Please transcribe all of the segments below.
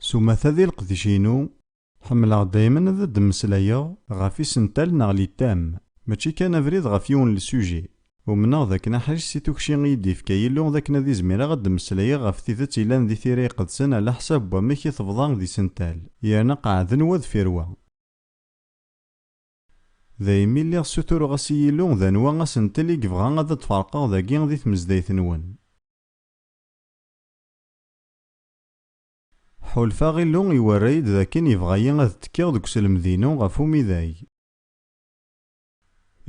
S umata di leqdic-inu, ḥemmleɣ daymen ad d-mmeslayeɣ ɣef isental neɣ littam, mačči kan abrid ɣef yiwen n lsujit. Umneɣ d akken aḥric si tukci i yi-d-ifka Yillu d akken ad izmireɣ ad d-mmeslayeɣ ɣef tidet yellan di Tira Iqedsen ɛla ḥsab n wamek i tebḍa d isental yerna qeɛɛden wa deffir wa. Daymi lliɣ ssutureɣ-as i Yillu d anwa asentel i yebɣa ad d-ferqeɣ dagi di tmezdayt-nwen. Ḥulfaɣ Illu iwerra-yi-d d akken yebɣa-yi ad ttekkiɣ deg uselmed-inu ɣef umidag.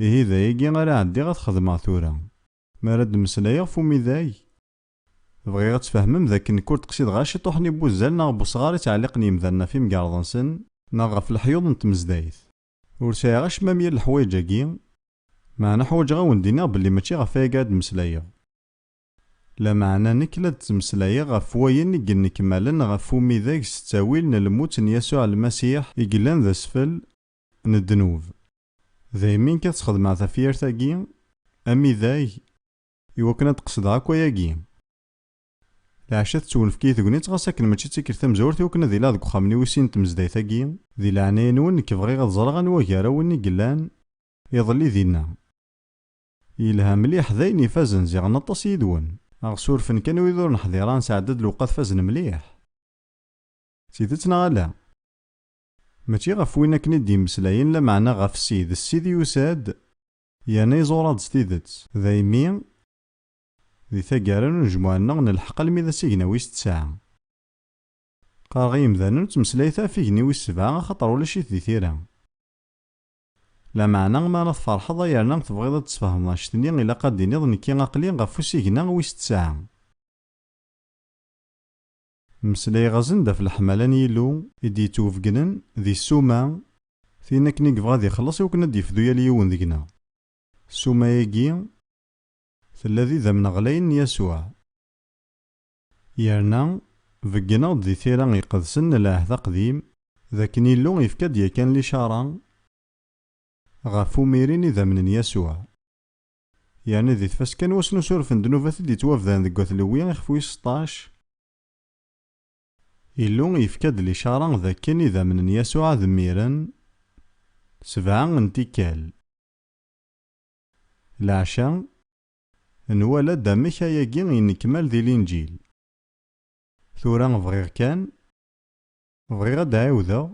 Ihi d ayagi ara ɛeddiɣ ad t-xedmeɣ tura. Mi ara d-mmeslayeɣ f umidag. Bɣiɣ ad tfehmem d akken nekk ur d-qsideɣ ara ciṭuḥen i wuzzal neɣ n wesɣar i ttɛelliqen yimdanen ɣef yimgerḍ-nsen, neɣ ɣef leḥyuḍ n tmezdayt. Ur sɛiɣ acemma mya n leḥwayeǧ-agi, meɛna ḥwaǧeɣ ad wen-d-iniɣ belli mačči ɣef wayagi ara d-mmeslayeɣ. Lameɛna nekk la d-ttmeslayeɣ ɣef wayen i yennekmalen ɣef umidag s ttawil n lmut n Yasuɛ Lmasiḥ i yellan d asfel, n ddnub. Daymi kan sxedmeɣ tafyirt-agi, amidag, i wakken ad d-qesdeɣ akk ayagi. Leɛca tettwenfek-iyi tegnit ɣas akken mačči d tikkelt tamezwarut i wakken ad iliɣ deg uxxam-nni wis sin n tmezdayt-agi. Di leɛnaya-nwen nekk bɣiɣ ad ẓreɣ anwa gar-awen i yellan iḍelli dinna. Yelha mliḥ, d ayen ifazen, ziɣen aṭas yid-wen. Ad ɣ-surfen kan wid ur neḥdir ara, nesɛedda-d lewqat fazen mliḥ. D tidet neɣ ala? Mačči ɣef win akken i d-yemmeslayen, lameɛna ɣef Ssid. Ssid yusa-d yerna iẓur-aɣ-d s tidet. Daymi, di taggara n unejmuɛ-nneɣ, nelḥeq almi d asigna wis tesɛa. Qqareɣ i yimdanen ur ttmeslayet ɣef igenni wis sebɛa axaṭer ulac-it di tira. Lameɛna, mi ara tferḥeḍ ay yerna tebɣiḍ ad d-tesfehmeḍ anect-nni, ilaq ad d-tiniḍ nekki aql-i ɣef usigna wis tesɛa. Mmeslayeɣ-asen-d ɣef leḥmala n Yillu i d-yettwebegnen di ssuma, tin akken i yebɣa ad ixelleṣ iwakken ad d-yefdu yal yiwen deg-neɣ. Ssuma-agi tella d idammen ɣlayen n Yasuɛ. Yerna, begneɣ-d di Tira Iqedsen n Lɛehd Aqdim d akken Yillu yefka-d yakan licaṛa ɣef umirin idammen n Yasuɛ. Yerna di tfaska n wass n usuref n ddnubat i d-yettwabdan deg Wat Lewwi ixef wis seṭṭac, Illu yefka-d licara d akken idammen n Yasuɛ ad mmiren sebɛa n tikkal. Leɛca, nwala-d amek ayagi yennekmal di Linǧil. Tura bɣiɣ kan Bɣiɣ ad d-ɛiwdeɣ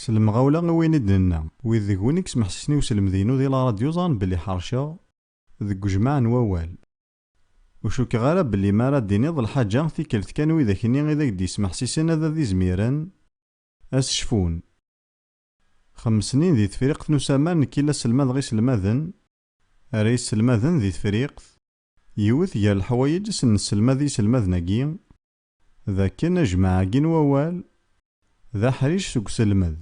s lemɣawla i wayen i d-nenna. Wid deg-wen i yesmeḥsisen i uselmed-inu di la radyu ẓran belli ḥerceɣ deg ujmaɛ n wawal. Ur cukkeɣ ara belli mi ara d-tiniḍ lḥaǧa tikkelt kan widak-nni i d ak-d-yesmeḥsisen ad ad-izmiren ad s-cfun. Xemmesenin di Tefriqt n usamar nekk i la sselmadeɣ iselmaden, ara yesselmaden di Tefriqt, yiwet gar leḥwayeǧ i sen-nesselmad i yiselmaden-agi, d akken ajmaɛ-agi n wawal d aḥric seg uselmed.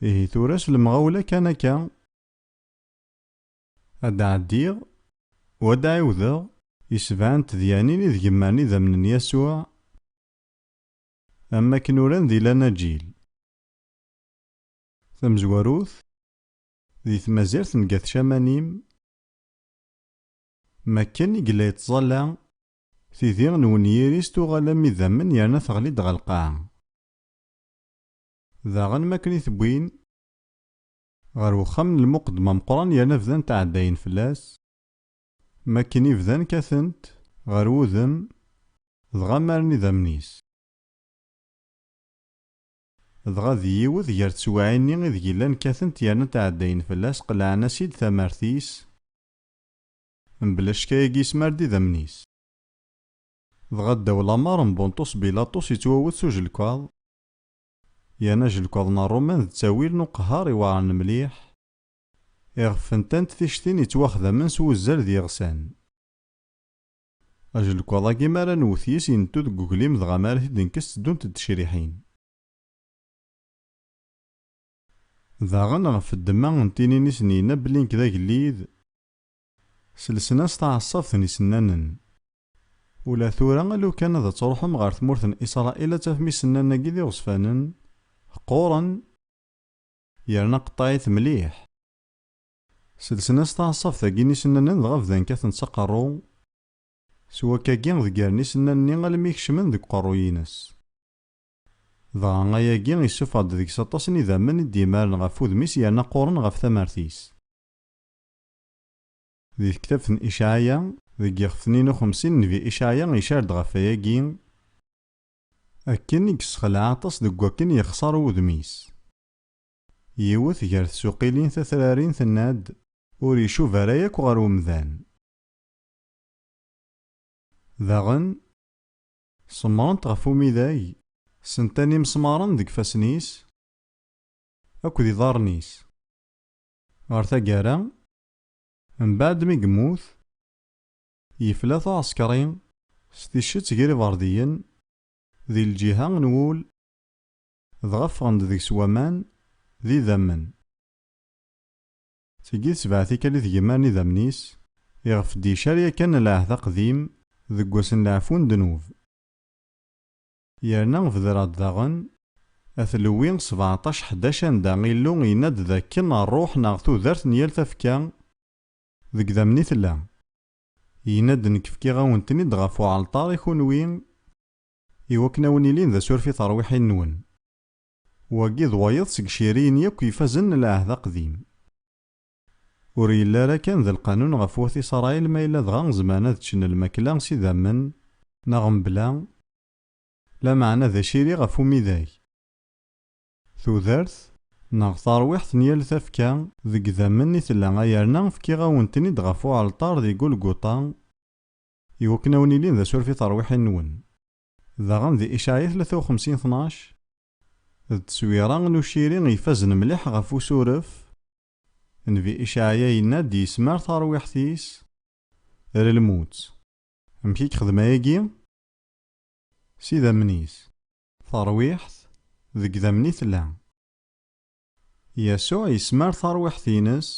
Ihi tura s lemɣawla kan akka, ad d-ɛeddiɣ u ad d-ɛiwdeɣ i sebɛa n tedyanin i deg mmaren idammen n Yasuɛ, am wakken uran di Lanaǧil. Tamezwarut, di tmazirt n Gat Camanim, Mi akken i yella yettẓalla, tidi n wenyir-is tuɣal am idammen yerna teɣli-d ɣer lqaɛa. Daɣen mi akken i t-wwin ɣer wexxam n lmuqeddem ameqqran yerna bdant ɛeddayen fell-as, mi akken i bdan kkaten-t ɣer wudem dɣa mmaren idammen-is. Dɣa di yiwet gar teswiɛin-nni ideg llan kkaten-t yerna ɛeddayen fell-as qellɛen-as-id tamart-is, Mebla ccek ayagi yesmar-d idammen-is. Dɣa ddaw lamer n Bunṭus Bilaṭus yettwawet s ujelkaḍ, yerna ajelkaḍ n Rruman d ttawil n uqehhar iweɛren mliḥ, iɣef fentant tictin yettwaxdamen s wuzzal d yiɣsan. Ajelkaḍ-agi mi ara nwet yes yentu deg uglim dɣa mi ara t-id-nekkes tteddunt-d tecriḥin. Daɣen ɣef ddemma n tinin-is n yenna belli nekk d agellid, selsen-as taɛeṣṣabt n isennanen. Ula tura alu kan ad truḥem ɣer tmurt n Israel ad tafem isennanen-agi d iɣezfanen, qquren, yerna qeṭṭeɛit mliḥ. Selsen-as taɛeṣṣabt-agi n isennanen dɣa bdan kkaten s aqerru, s wakkagi ḍeggren isennanen-nni almi kecmen deg uqerruy-ines. Dɣa ayagi issufeɣ-d deg-s aṭas n idammen i d-yemmaren ɣef wudem-is yerna qquren ɣef tamart-is. Di tektabt n Icaɛya, deg yixef-nni n uxemsin, nnbi Icaɛya icar-d ɣef wayagi, Akken i yessexleɛ aṭas deg wakken yexṣer wudem-is. Yiwet gar tsuqilin tatrarin tenna-d, Ur icuba ara yakk ɣer umdan. Daɣen. Semmrent ɣef umidag, sentan imesmaṛen deg ifassen-is akked iḍarren-is. Ɣer taggara, mbeɛd mi yemmut, yefla taɛeṣkeṛi s ticcett ger iberdiyen di lǧiha n wul, dɣa ffɣen-d deg-s waman d idammen. Tigi d sebɛa tikkal i tgemma n idammen-is, iɣef d-icar yakan lɛehd aqdim deg wass n leɛfu n ddnub. Yerna bedreɣ-d daɣen At Lewwi sebɛṭac ḥdac anda Illu yenna-d d akken rruḥ neɣ tudert n yal tafekka deg idammen i tella. Yenna-d nekk fkiɣ-awen-ten-id ɣef uɛalṭar i kunwi i wakken a wen-ilin d asuref i terwiḥin-nwen. Wagi d wayeḍ seg iciriyen yakk ifazen n Lɛehd Aqdim. Ur yelli ara kan d lqanun ɣef Wat Isṛail ma yella dɣa zemren ad ččen lmakla s idammen neɣ mebla, lameɛna d aciri ɣef umidag, tudert neɣ tarwiḥt n yal tafekka deg idammen i tella ayerna fkiɣ-awen-ten-id ɣef uɛalṭar di Gulguṭa iwakken a wen-ilin d asuref i terwiḥin-nwen. Daɣen di Icaɛi tlata u xemsin tnac, d tteswira n uciri ifazen mliḥ ɣef usuref. Nnbi Icaɛya yenna-d yesmar tarwiḥt-is ar lmut. Amek i yexdem ayagi? S idammen-is. Tarwiḥt deg idammen i tella. Yasuɛ yesmar tarwiḥt-ines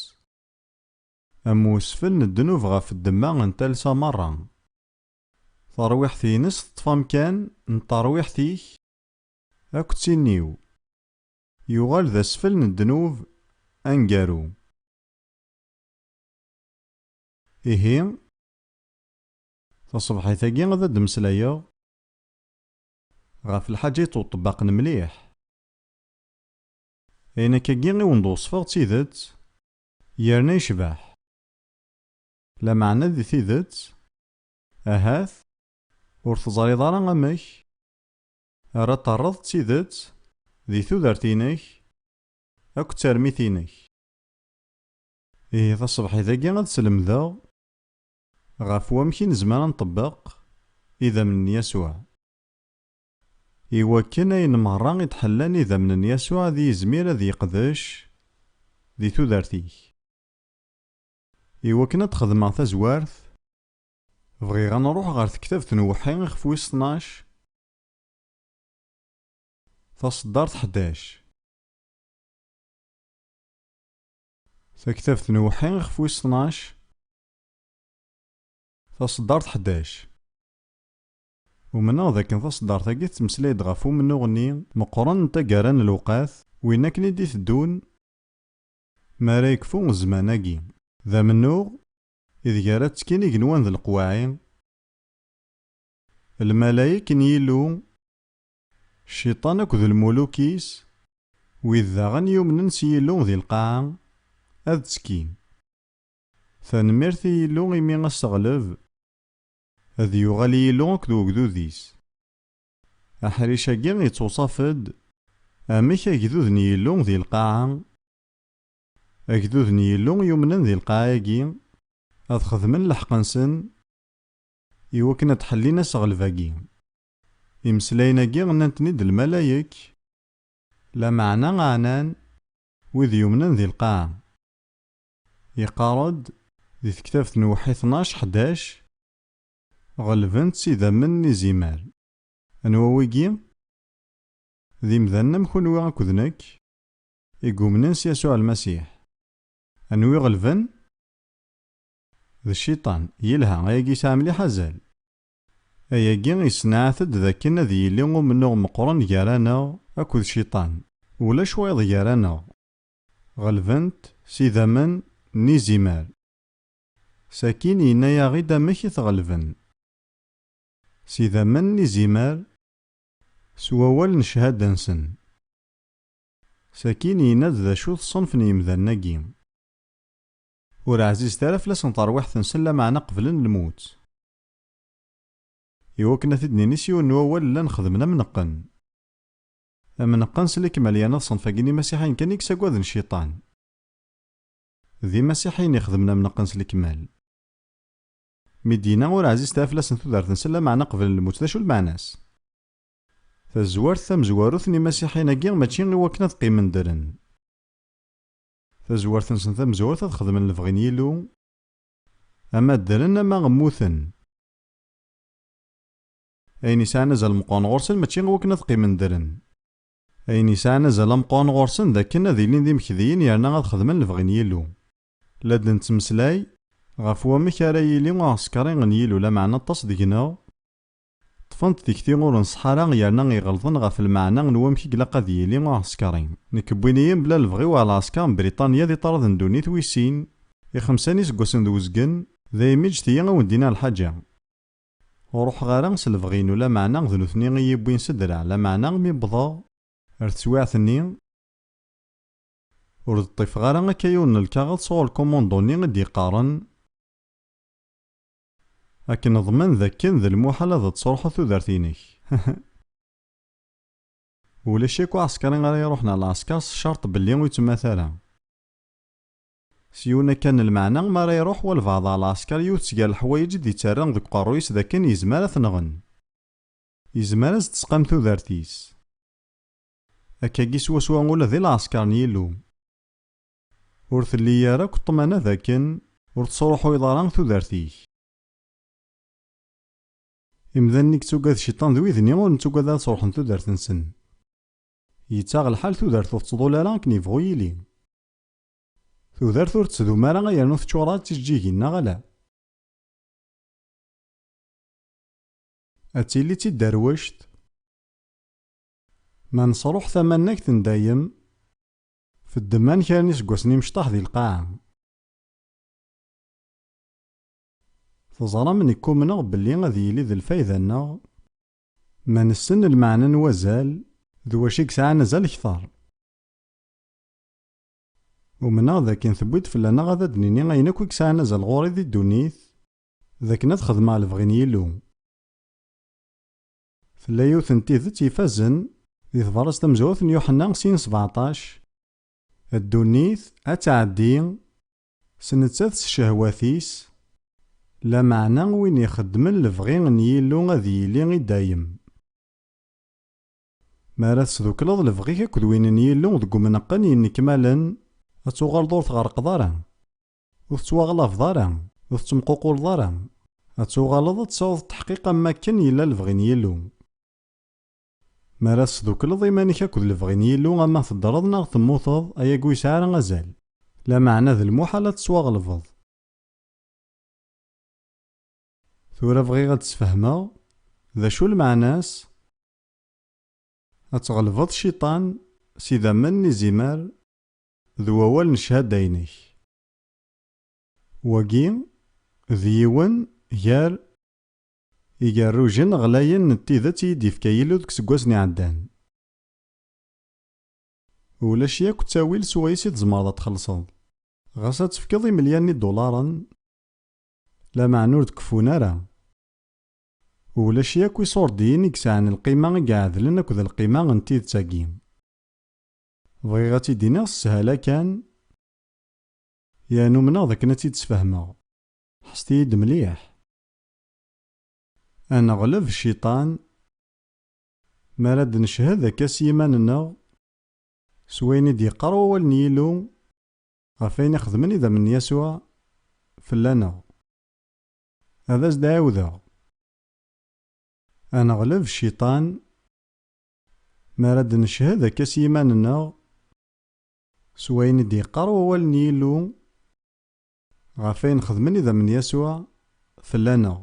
am usfel n ddnub ɣef ddemma n talsa merra. Tarwiḥt-ines teṭṭef amkan n terwiḥt-ik akk d tin-iw. Yuɣal d asfel n ddnub aneggaru. Ihi, taṣebḥit-agi ad d-mmeslayeɣ ɣef lḥaǧa yettweṭṭbaqen mliḥ. Ayen akkagi i wen-d-weṣfeɣ d tidet yerna yecbeḥ. Lameɛna di tidet Ahat ur teẓriḍ ara amek ara terreḍ d tidet di tudert-inek akked termit-inek. Ihi taṣebḥit-agi ad slemdeɣ ɣef wamek i nezmer ad nṭebbeq idammen n Yasuɛ. I wakken ayen merra i d-ḥellan idammen n Yasuɛ ad yizmir ad yeqdec di tudert-ik. Iwakken ad d-xedmeɣ tazwart, bɣiɣ ad nruḥ ɣer tektabt n uweḥḥi ixef wis tnac, taṣeddart ḥdac. Taktabt n uweḥḥi ixef wis tnac, taṣeddart ḥdac. Umneɣ d akken taṣeddart-agi tettmeslay-d ɣef umennuɣ-nni meqqren n taggara n lewqat, win akken i d-iteddun, Mi ara yekfu zzman-agi. D amennuɣ ideg ara ttekkin igenwan d leqwaɛi, lmalayek n Yillu, Cciṭan akked lmuluk-is, wid daɣen yumnen s Yillu di lqaɛa, ad ttekkin. Tanemmirt i Yillu imi aseɣleb ad yuɣal i Yillu akked ugdud-is. Aḥric-agi ittewṣaf-d amek agdud n Yillu di lqaɛa. Agdud n Yillu yumnen di lqaɛa-agi ad xedmen lḥeqq-nsen i wakken ad d-ḥellin aseɣleb-agi. Imeslayen-agi nnan-ten-id lmalayek, lameɛna ɛnan wid yumnen di lqaɛa. Iqqar-d di tektabt n Uwḥi tnac, ḥdac. Ɣelben-tt idammen n izimer. Anwa wigi? D imdanen am kunwi akked nekk, i yumnen s Yasuɛ Lmasiḥ. Anwa i ɣelben? D Cciṭan. Yelha, ayagi yesɛa mliḥ azal. Ayagi yessenɛat-d d akken ad yili umennuɣ meqqren gar-aneɣ akked Cciṭan. Ulac wayeḍ gar-aneɣ. Ɣelben-t s idammen n izimer. Sakin yenna-yaɣ-id amek i t-ɣelben. S idammen n izimer, s wawal n cchada-nsen. Sakin yenna-d d acu-t ṣṣenf n yemdanen-agi. Ur ɛzizet ara fell-asen terwiḥt-nsen lameɛna qeblen lmut. Iwakken ad t-id-nini s yiwen n wawal llan xedmen am neqqen. Am neqqen s lekmal yerna d ṣṣenf-agi n yimasiḥiyen kan i yessagaden Cciṭan. D imasiḥiyen ixedmen amneqqen s lekmal. Mi d-yenna ur ɛzizet ara fell-asen tudert-nsen lameɛna qeblen lmut d acu lmeɛna-s? Tazwart tamezwarut n imasiḥiyen-agi mačči i wakken ad qqimen ddren. Tazwart-nsen tamezwarut ad xedmen lebɣi n Yillu, ama ddren ama mmuten. Ayen yesɛan azal meqqren ɣur-sen mačči i wakken ad qqimen ddren. Ayen yesɛan azal ameqqran ɣur-sen d akken ad ilin d imekdiyen yerna ad xedmen lebɣi n Yillu. La d-nettmeslay ɣef wamek ara yili uɛesker n Yillu, lameɛna aṭas deg-neɣ ṭṭfen-d tikti ur nṣeḥḥa ara yerna i ɣelḍen ɣef lmeɛna n wamek i ilaq ad yili uɛesker. Nekk wwin-iyi mebla lebɣi-w ɣer lɛesker n Briṭanya di ṭṭrad n ddunit wis sin, i xemsa n yiseggasen d uzgen, daymi ǧǧet-iyi a wen-d-iniɣ lḥaǧa. Ur ruḥeɣ ara s lebɣi-inu, lameɛna d nutni i yi-yewwin s ddreɛ, lameɛna mi wwḍeɣ. Ar teswiɛt-nni, ur d-ṭṭifeɣ ara akka yiwen n lkaɣeḍ sɣur lkumundo-nni i d-yeqqaren, Ad k-neḍmen d akken d lmuḥal ad d-tesruḥeḍ tudert-inek. Ulac akk aɛeskṛi ara iruḥen ar lɛesker s ccerṭ belli ur yettemmata ara. S yiwen akka n lmeɛna, mi ara iruḥ walbeɛḍ ɣer lɛesker, yiwet seg ger leḥwayeǧ i d-ittarra deg uqerruy-is d akken yezmer ad t-nɣen. Yezmer ad s-d-tesqam tudert-is. Akkagi swaswa ula di lɛesker n Yillu. Ur telli ara akk ṭṭmana d akken ur tesruḥuyeḍ ara tudert-ik. Imdanen i yettugad Cciṭan d wid-nni ur nettugad ara ad sruḥen tudert-nsen. Yettaɣ lḥal tudert ur tettḍul ara akken yebɣu yili. Tudert ur ttdum ara yernu teččur-a d tijeǧǧigin neɣ ala? Ad tili d tidderwect. Ma nesruḥ tamannagt n dayem, feddeman kra n iseggasen imecṭaḥ di lqaɛa. Teẓram nekk umneɣ belli ad yili d lfayda-nneɣ ma nessen lmeɛna n wazal d wacu i yesɛan azal kter. Umneɣ d akken tewwi-d fell-aneɣ ad d-nini ayen akk i yesɛan azal ɣur-i di ddunit, d akken ad xedmeɣ lebɣi n Yillu. Tella yiwet n tidet ifazen di tebṛazt tamezwarut n Yuḥenna sin sbeɛṭac, Ddunit ad tɛeddi s nettat s ccehwat-is, lameɛna win ixeddmen lebɣi n Yillu ad yili i dayem. Mi ara tesdukleḍ lebɣi-k akked win n Yillu deg umneqqen yennekmalen, ad tuɣaleḍ ur tɣerqeḍ ara, ur tettwaɣlabeḍ ara, ur tettemququleḍ ara, ad tuɣaleḍ ad tesɛuḍ ṭeḥqiq am wakken yella lebɣi n Yillu. Mi ara tesdukleḍ iman-ik akked lebɣi n Yillu ama teddreḍ neɣ temmuteḍ, ayagi ur yesɛi ara azal. Lameɛna d lmuḥal ad tettwaɣelbeḍ. Tura bɣiɣ ad d-sfehmeɣ d acu lmeɛna-s Ad tɣelbeḍ Cciṭan s idammen n izimer d wawal n cchada-inek. Wagi d yiwen gar igerrujen ɣlayen n tidet i yi-d-yefka Yillu deg iseggasen iɛeddan. Ulac yakk ttawil s wayes i tzemreḍ ad txellṣeḍ. Ɣas ad tefkeḍ imelyan n idularen, lameɛna ur d-keffun ara. Ulac yakk iṣurdiyen i yesɛan lqima i iɛedlen akked lqima n tidet-agi. Bɣiɣ ad tt-id-iniɣ s sshala kan, yerna umneɣ d akken ad tt-id-sfehmeɣ. Ḥesset-iyi-d mliḥ. Ad neɣleb cciṭan mi ara d-neched akka s yiman-nneɣ, s wayen i d-yeqqar Wawal n Yillu ɣef wayen i xedmen idammen n Yasuɛ fell-aneɣ. Ad as-d-ɛiwdeɣ. Ad neɣleb cciṭan mi ara d-neched akka s yiman-nneɣ s wayen i d-yeqqar Wawal n Yillu ɣef wayen xedmen idammen n Yasuɛ fell-aneɣ.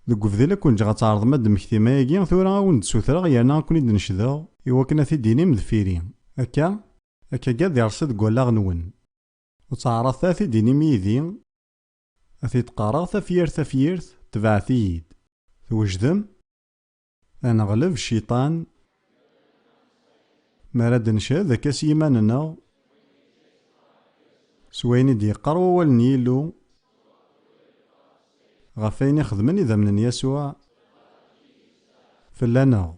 Deg ubdil ad ken-ǧǧeɣ ad tɛerḍem ad d-temmektim ayagi, tura ad wen-d-ssutreɣ yerna ad ken-id-necdeɣ. Iwakken ad t-id-tinim deffir-i. Akka? Akka gad ireṣṣi deg wallaɣ-nwen. Ur ttaɛraḍet ara t-id-inim yid-i, ad t-id-qqareɣ tafyirt tafyirt, tebɛet-iyi-d. Twejdem? Ad neɣleb cciṭan. Mi ara d-ncehhed akka s yiman-nneɣ, s wayen i d-yeqqar Wawal n Yillu, ɣef wayen i xedmen idammen n Yasuɛ fell-aneɣ.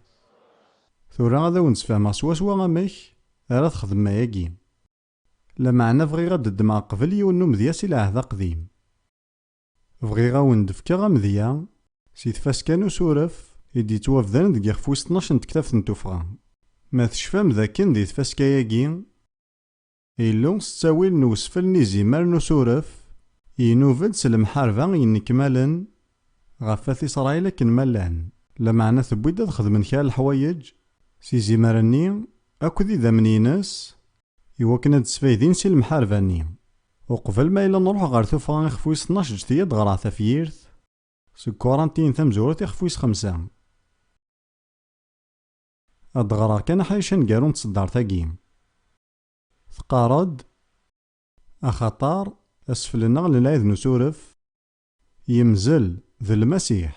Tura ad awen-d-sfehmeɣ swaswa amek ara texdem ayagi. Lameɛna bɣiɣ ad d-ddmeɣ qbel yiwen n umedya si Lɛehd Aqdim. Bɣiɣ ad wen-d-fkeɣ amedya si tfaska n usuref i d-yettwabdaren deg yixef wis tnac n tektabt n tuffɣa. Ma tecfam d akken di tfaska-agi, Illu s ttawil n usfel n izimer n usuref, inub-d s lemḥarba yennekmalen Ɣef At Isṛayil akken ma llan. Lameɛna tewwi-d ad xedmen kra n leḥwayeǧ s izimer-nni akk d idammen-ines, i wakken ad d-sfaydin si lemḥarba-nni. Uqbel ma yella nruḥ ɣer tuffɣa ixef wis tnac ǧǧet-iyi ad ɣreɣ tafyirt. Seg quarantine tamezwarut ixef wis xemsa. Ad d-ɣreɣ kan aḥric aneggaru n tseddart-agi. Teqqar-d, Axaṭer, asfel-nneɣ n lɛid n usuref, Yemzel, d Lmasiḥ.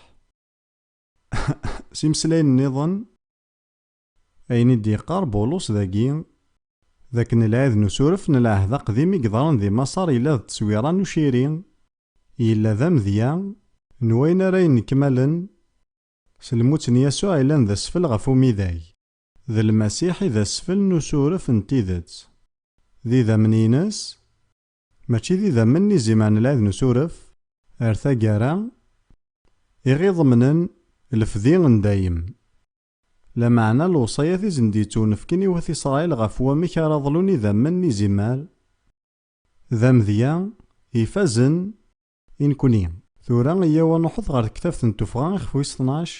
S imeslayen nniḍen, ayen i d-yeqqar Bulus dagi, d akken lɛid n usuref n Lɛehd Aqdim i yeḍran di Maṣer yella d tteswira n uciri, yella d amedya n wayen ara yennekmalen s lmut n Yasuɛ yellan d asfel ɣef umidag. D Lmasiḥ i d asfel n usuref n tidet. D idammen-ines Mačči d idammen n izimer n lɛid n usuref, ar taggara, i ɣ-iḍemnen lefdi n dayem. Lameɛna lewṣayat i sen-d-yettunefken i wat Isṛail ɣef wamek ara ḍlun idammen n izimer, d amedya ifazen i nekni. Tura eyyaw ad nṛuḥet ɣer tektabt n Tuffɣa ixef wis tnac.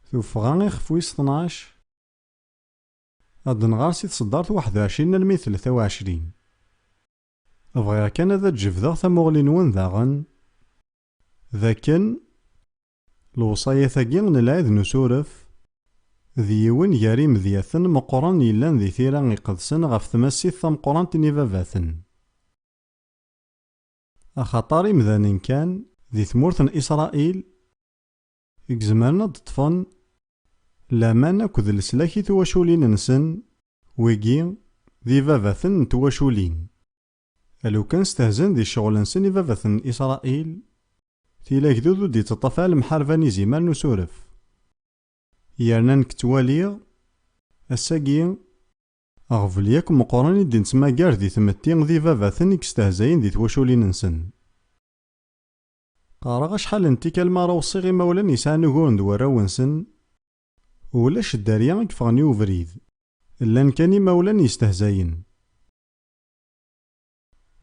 Tuffɣa ixef wis tnac. Ad d-nɣer si tseddart waḥed u ɛecrin almi d tlata u ɛecrin. Bɣiɣ kan ad d-jebdeɣ tamuɣli-nwen daɣen d akken lewṣayat-agi n Lɛid n Usuref d yiwen gar yimedyaten meqqren yellan di tira iqedsen ɣef tmasit tameqqrant n ibabaten. Axaṭer imdanen kan di tmurt n Isṛail i izemren ad d-ṭṭfen laman akked leslak i twaculin-nsen, wigi d ibabaten n twaculin. Alukan stehzen di ccɣel-nsen ibabaten n Israil, tili agdud ur d-iţṭṭaf ara lemḥarba n izimer n usuref. Yerna nekk ţwaliɣ, ass-agi, aɣbel yakk meqqren i d-neţmagar di tmetti d ibabaten i istehzayen di twaculin-nsen. Qqareɣ acḥal n tikkal mi ara weṣṣiɣ imawlan yesɛan uguren d warraw-nsen, ulac dderya i yeffɣen i ubrid, llan kan imawlan yestehzayen.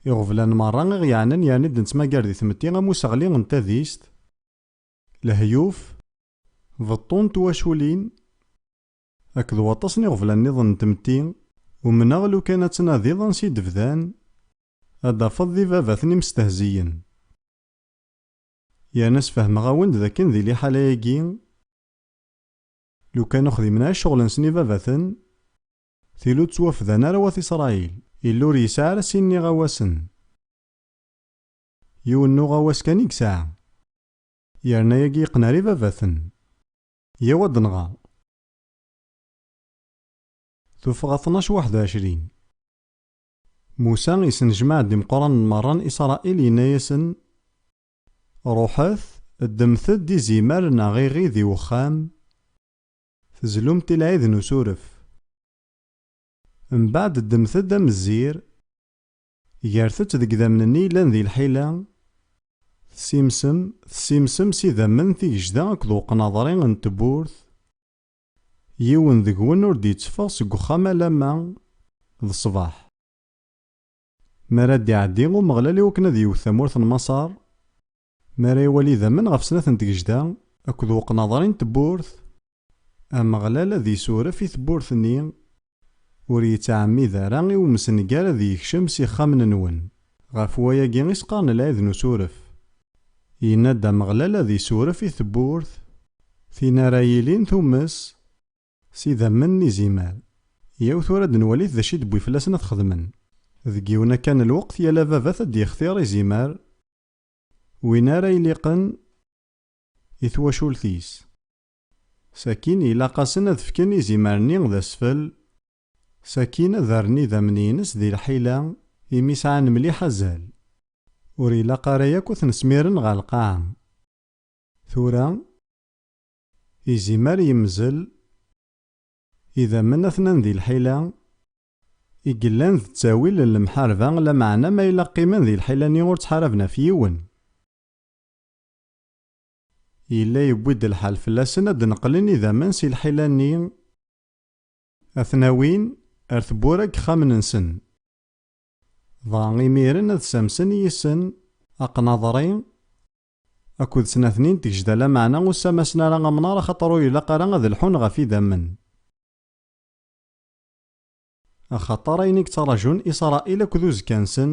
Iɣeblan merra i ɣ-yeɛnan yerni d-nettmagar di tmetti am useɣli n tadist, lehyuf, beṭṭu n twaculin akked waṭas n iɣeblan-nniḍen n tmetti, umneɣ lukan ad tnadiḍ ansi d-bdan Ad d-tafeḍ d ibabaten imestehziyen. Yerna sfehmeɣ-awen-d d akken di liḥala-agi, lukan ur xdimen ara cceɣl-nsen ibabaten, tili ur ttwafdan ara wat Isṛayil. Illu ur yesɛi ara sin n iɣawasen. Yiwen n uɣawas kan i yesɛa. Yerna yagi yeqqen ar ibabaten. Yaw ad d-nɣer. Tuffɣa tnac waḥed u ɛecrin. Musa isnejmaɛ-d imeqqranen merra n Isṛail, yenna-yasen, Ruḥet, ddmet-d izimer neɣ iɣi di wexxam, tezlumt i lɛid n usuref. Mbeɛd ddmet-d amezzir, gret-t deg idammen-nni yellan di lḥila, tessimsem, tessimsem s idammen tigejda akked uqnaḍri n tewwurt, Yiwen deg-wen ur d-yetteffeɣ seg uxxam alamma d ṣṣbeḥ. Mi ara d-iɛeddi Umeɣlal iwakken ad yewwet tamurt n Maṣer, mi ara iwali idammen ɣef snat n tgejda akked uqnaḍri n tewwurt, Ameɣlal ad isuref i tewwurt-nni Ur yettɛemmid ara i umsengar ad yekcem s ixxamen-nwen. Ɣef wayagi i s-qqaren lɛid n usuref. Yenna-d Ameɣlal ad isuref i tewwurt, tin ara yilin tumes, s idammen n izimer. Yaw tura ad nwalit d acu i d-wwi fell-asen ad t-xedmen. Deg yiwen akka n lweqt yal ababat ad d-yextir izimer win ara iliqen i twacult-is. Sakkin ilaq-asen ad fken izimer-nni d asfel, sakkin ad rren idammen-ines di lḥila imi sɛan mliḥ azal. Ur ilaq ara yakk ad ten-smiren ɣer lqaɛa. Tura, izimer yemzel, idammen atnan di lḥila i yellan d ttawil n lemḥarba, lameɛna ma yella qqimen di lḥila-nni ur ttḥaraben ɣef yiwen. Yella yewwi-d lḥal fell-asen ad d-neqlen idammen si lḥila-nni, ad ten-awin ar tewwura n yexxamen-nsen, dɣa imiren ad ssamsen yis-sen aqnaḍri akked snat-nni n tgejda, lameɛna ur ssamasen ara amnaṛ axaṭer ur ilaq ara ad lḥun ɣef idammen, axaṭer ayen i yettaraǧun Isṛail akked uzekka-nsen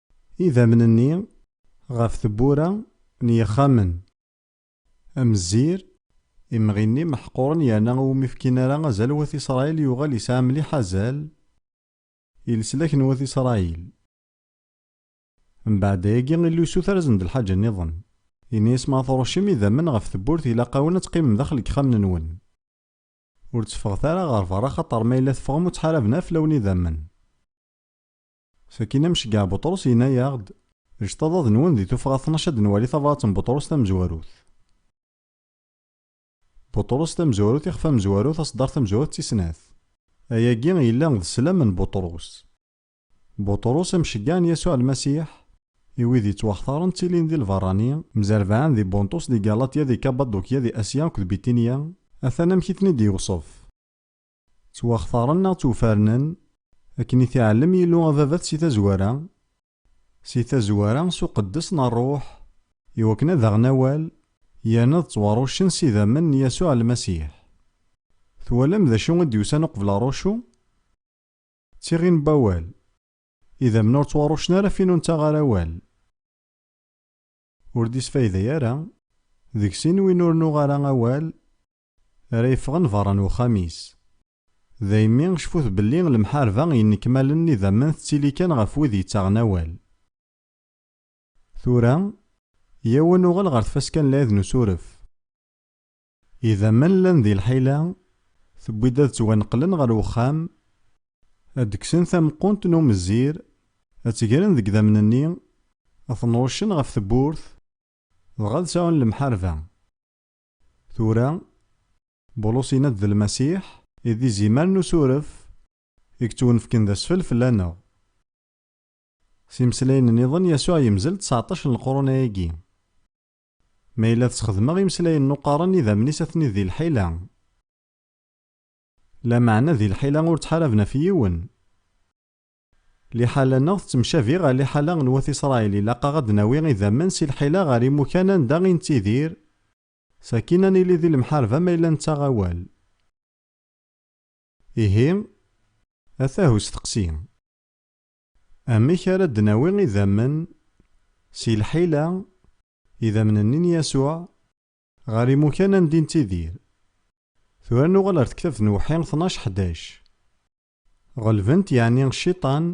Idammen-nni ɣef tewwura n yexxamen. Amzir, imɣi-nni meḥquren yerna ur umi fkin ara azal Wat Isṛayil yuɣal yesɛa mliḥ azal i leslak n Wat Isṛayil. Mbeɛd ayagi illusu tarzen d lḥaǧa nniḍen. Yenna-yas ma tṛuccem idammen ɣef tewwurt ilaq-awen ad teqqimem daxel n yexxamen-nwen. Ur tteffɣet ara ɣer berra axaṭer ma yella teffɣem ur ttḥaraben ara fell-awen idammen. Sakkin amceggeɛ Buṭrus yenna-yaɣ-d, Ǧǧet aḍad-nwen di tuffɣa tnac ad nwali tabṛat n Buṭrus tamezwarut. Buṭrus tamezwarut ixef amezwarut aṣeddar tamezwarut tis snat. Ayagi yella d sslam n Buṭrus. Buṭrus amceggeɛ n Yasuɛ Lmasiḥ i wid yettwaxtaren ttilin di lbeṛṛani, mzerbaɛen di Bunṭus di Galatya di Kabadukya di Asya akked Bitinya, atan amek i ten-id-yewṣef. Ttwaxtaren neɣ ttwfernen akken i t-iɛellem Yillu Ababat si tazwara, si tazwara s uqeddes n Rruḥ, i wakken ad aɣen awal yerna ad ttwaruccen s idammen n Yasuɛ Lmasiḥ. Twalam d acu i d-yusan uqbel aruccu? D tiɣi n wawal. Idammen ur ttwaruccen ara fin ur nettaɣ ara awal. Ur d-isfayday ara, deg sin win ur nuɣ ara awal Ara yeffɣen berra n uxxam-is. Daymi, cfut belli lemḥarba n yinekmalen n idammen tettili kan ɣef wid yettaɣen awal. Tura, yyaw ad nuɣal ɣer tfaska n lɛid n usuref. Idammen llan di lḥila, tewwi-d ad ttwaneqlen ɣer uxxam, ad d-kksen tameqqunt n umezzir, ad tt-gren deg idammen-nni, ad ten-ṛuccen ɣef tewwurt, dɣa ad sɛun lemḥarba. Tura, Bulus yenna-d d Lmasiḥ i d izimer n usuref i yettwunefken d asfel fell-aneɣ. S yimeslayen nniḍen Yasuɛ yemzel ţseɛṭac n leqrun-ayagi. Ma yella tesxedmeɣ imeslayen n uqaren idammen-is atni di lḥila. Lameɛna di lḥila ur ţḥaraben ɣef yiwen. Liḥala-nneɣ tettemcabi ɣer liḥala n wat Isṛail. Ilaq-aɣ ad d-nawi idammen si lḥila ɣer imukan anda i nettidir, sakin ad nili di lemḥarba ma yella nettaɣ awal. Ihi, atah usteqsi, Amek ara d-nawi idammen si lḥila, idammen-nni n Yasuɛ, ɣer imukan anda i nettidir? Tura nuɣal ɣer tektabt n Uwḥi tnac ḥdac. Ɣelben-t yeɛni cciṭan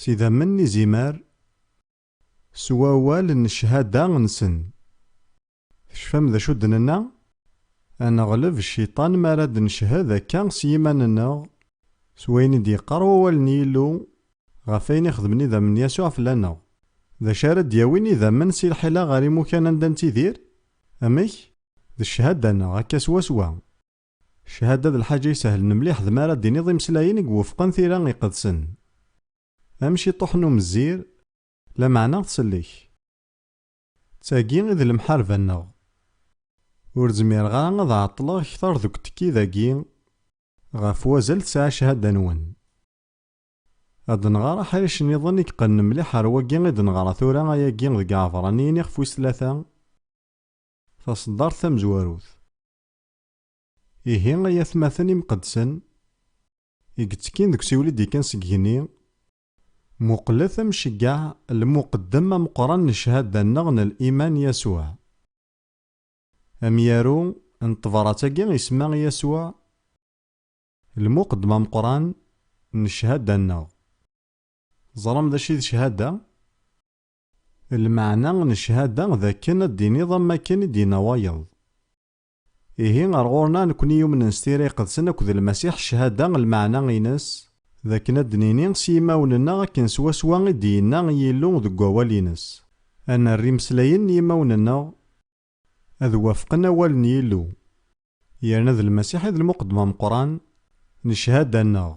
s idammen n izimer s wawal n cchada nsen. Tecfam d acu d-nenna? Ad neɣleb cciṭan mi ara d-neched akka s yiman-nneɣ s wayen i d-yeqqar wawal n Yillu ɣef wayen i xedmen idammen n Yasuɛ fell-aneɣ. D acu ara d-yawin idammen si lḥila ɣer imukan anda nettidir? Amek? D cchada-nneɣ, akka swaswa. Cchada d lḥaǧa isehlen mliḥ d mi ara d-tiniḍ imeslayen i iwufqen tira iqedsen. Am ciṭuḥ n umezzir, lameɛna tsellek. D tagi i d lemḥarba-nneɣ. Ur zmireɣ ara ad ɛeṭṭleɣ kter deg utekki dagi ɣef wazal tesɛa cchada-nwen. Ad d-nɣer aḥric niḍen i yeqqnen mliḥ ar wagi i d-neɣra tura ayagi deg Iɛebraniyen iɣef wis tlata, taṣeddart tamezwarut. Ihi ay atmaten imqeddsen i yettekkin deg usiwel i d-yekkan seg yigenni, muqlet amceggeɛ lmuqeddem ameqqran n cchada-nneɣ n liman Yasuɛ. Amyaru n tebrat-agi isemma i Yasuɛ lmuqeddem ameqqran n cchada-nneɣ. Teẓram d acu i d cchada? Lmeɛna n cchada d akken ad d-tiniḍ am wakken i d-yenna wayeḍ. Ihi ar ɣur-neɣ nekkni yumnen s tira iqedsen akked Lmasiḥ ccahada, lmeɛna-ines, d akken ad d-nini s yimawen-nneɣ akken swaswa i d-yenna Yillu deg Wawal-ines. Ad nerr imeslayen n yimawen-nneɣ ad wafqen awal n Yillu, yerna d Lmasiḥ i d lmuqeddem ameqqran n ccahada-nneɣ.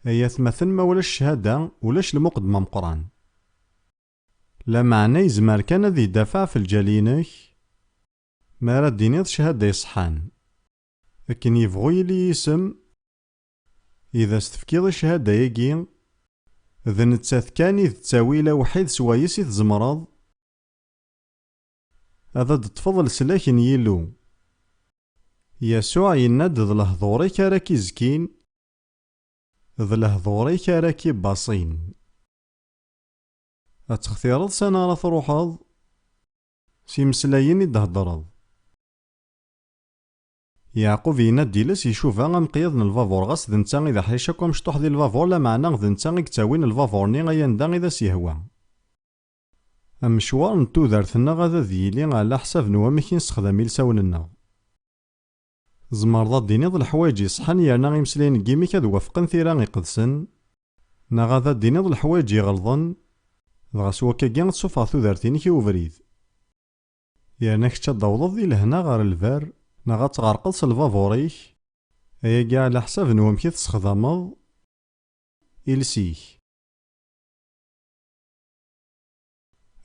Ay atmaten, ma ulac ccahada, ulac lmuqeddem ameqqran. Lameɛna yezmer kan ad idafeɛ ɣef lǧal-inek? Mi ara d-tiniḍ cahada iṣeḥḥan, akken yebɣu yili yisem i d as-tefkiḍ i cahada-agi, d nettat kan i d ttawil awḥid s wayes i tzemreḍ ad d-teṭṭfeḍ leslak n Yillu. Yasuɛ yenna-d d lehdur-ik ara k-izkin, d lehdur-ik ara k-ibaṣin. Ad textireḍ s ani ara truḥeḍ, S imeslayen i d-theddreḍ. Yeɛqub yenna-d iles icuba amqyad n lbabuṛ ɣas d netta i d aḥric akk amecṭuḥ di lbabuṛ lameɛna d netta i yettawin lbabuṛ-nni ay anda i d as-yehwa. Amecwar n tudert-nneɣ ad ad yili ɛla ḥsab n wamek i nessexdam ilsawen-nneɣ. Tzemreḍ ad d-tiniḍ leḥwayeǧ iṣeḥḥan yerna imeslayen n yimi-k ad wafqen tira iqedsen, neɣ ad ad d-tiniḍ leḥwayeǧ iɣelḍen, dɣa s wakkagi ad tessufɣeḍ tudert-inek i ubrid. Yerna kečč ad d-tawḍeḍ di lehna ɣer lberr, neɣ ad tɣerqeḍ s lbabuṛ-ik, ayagi ɛla ḥsab n wamek i tessexdameḍ iles-ik.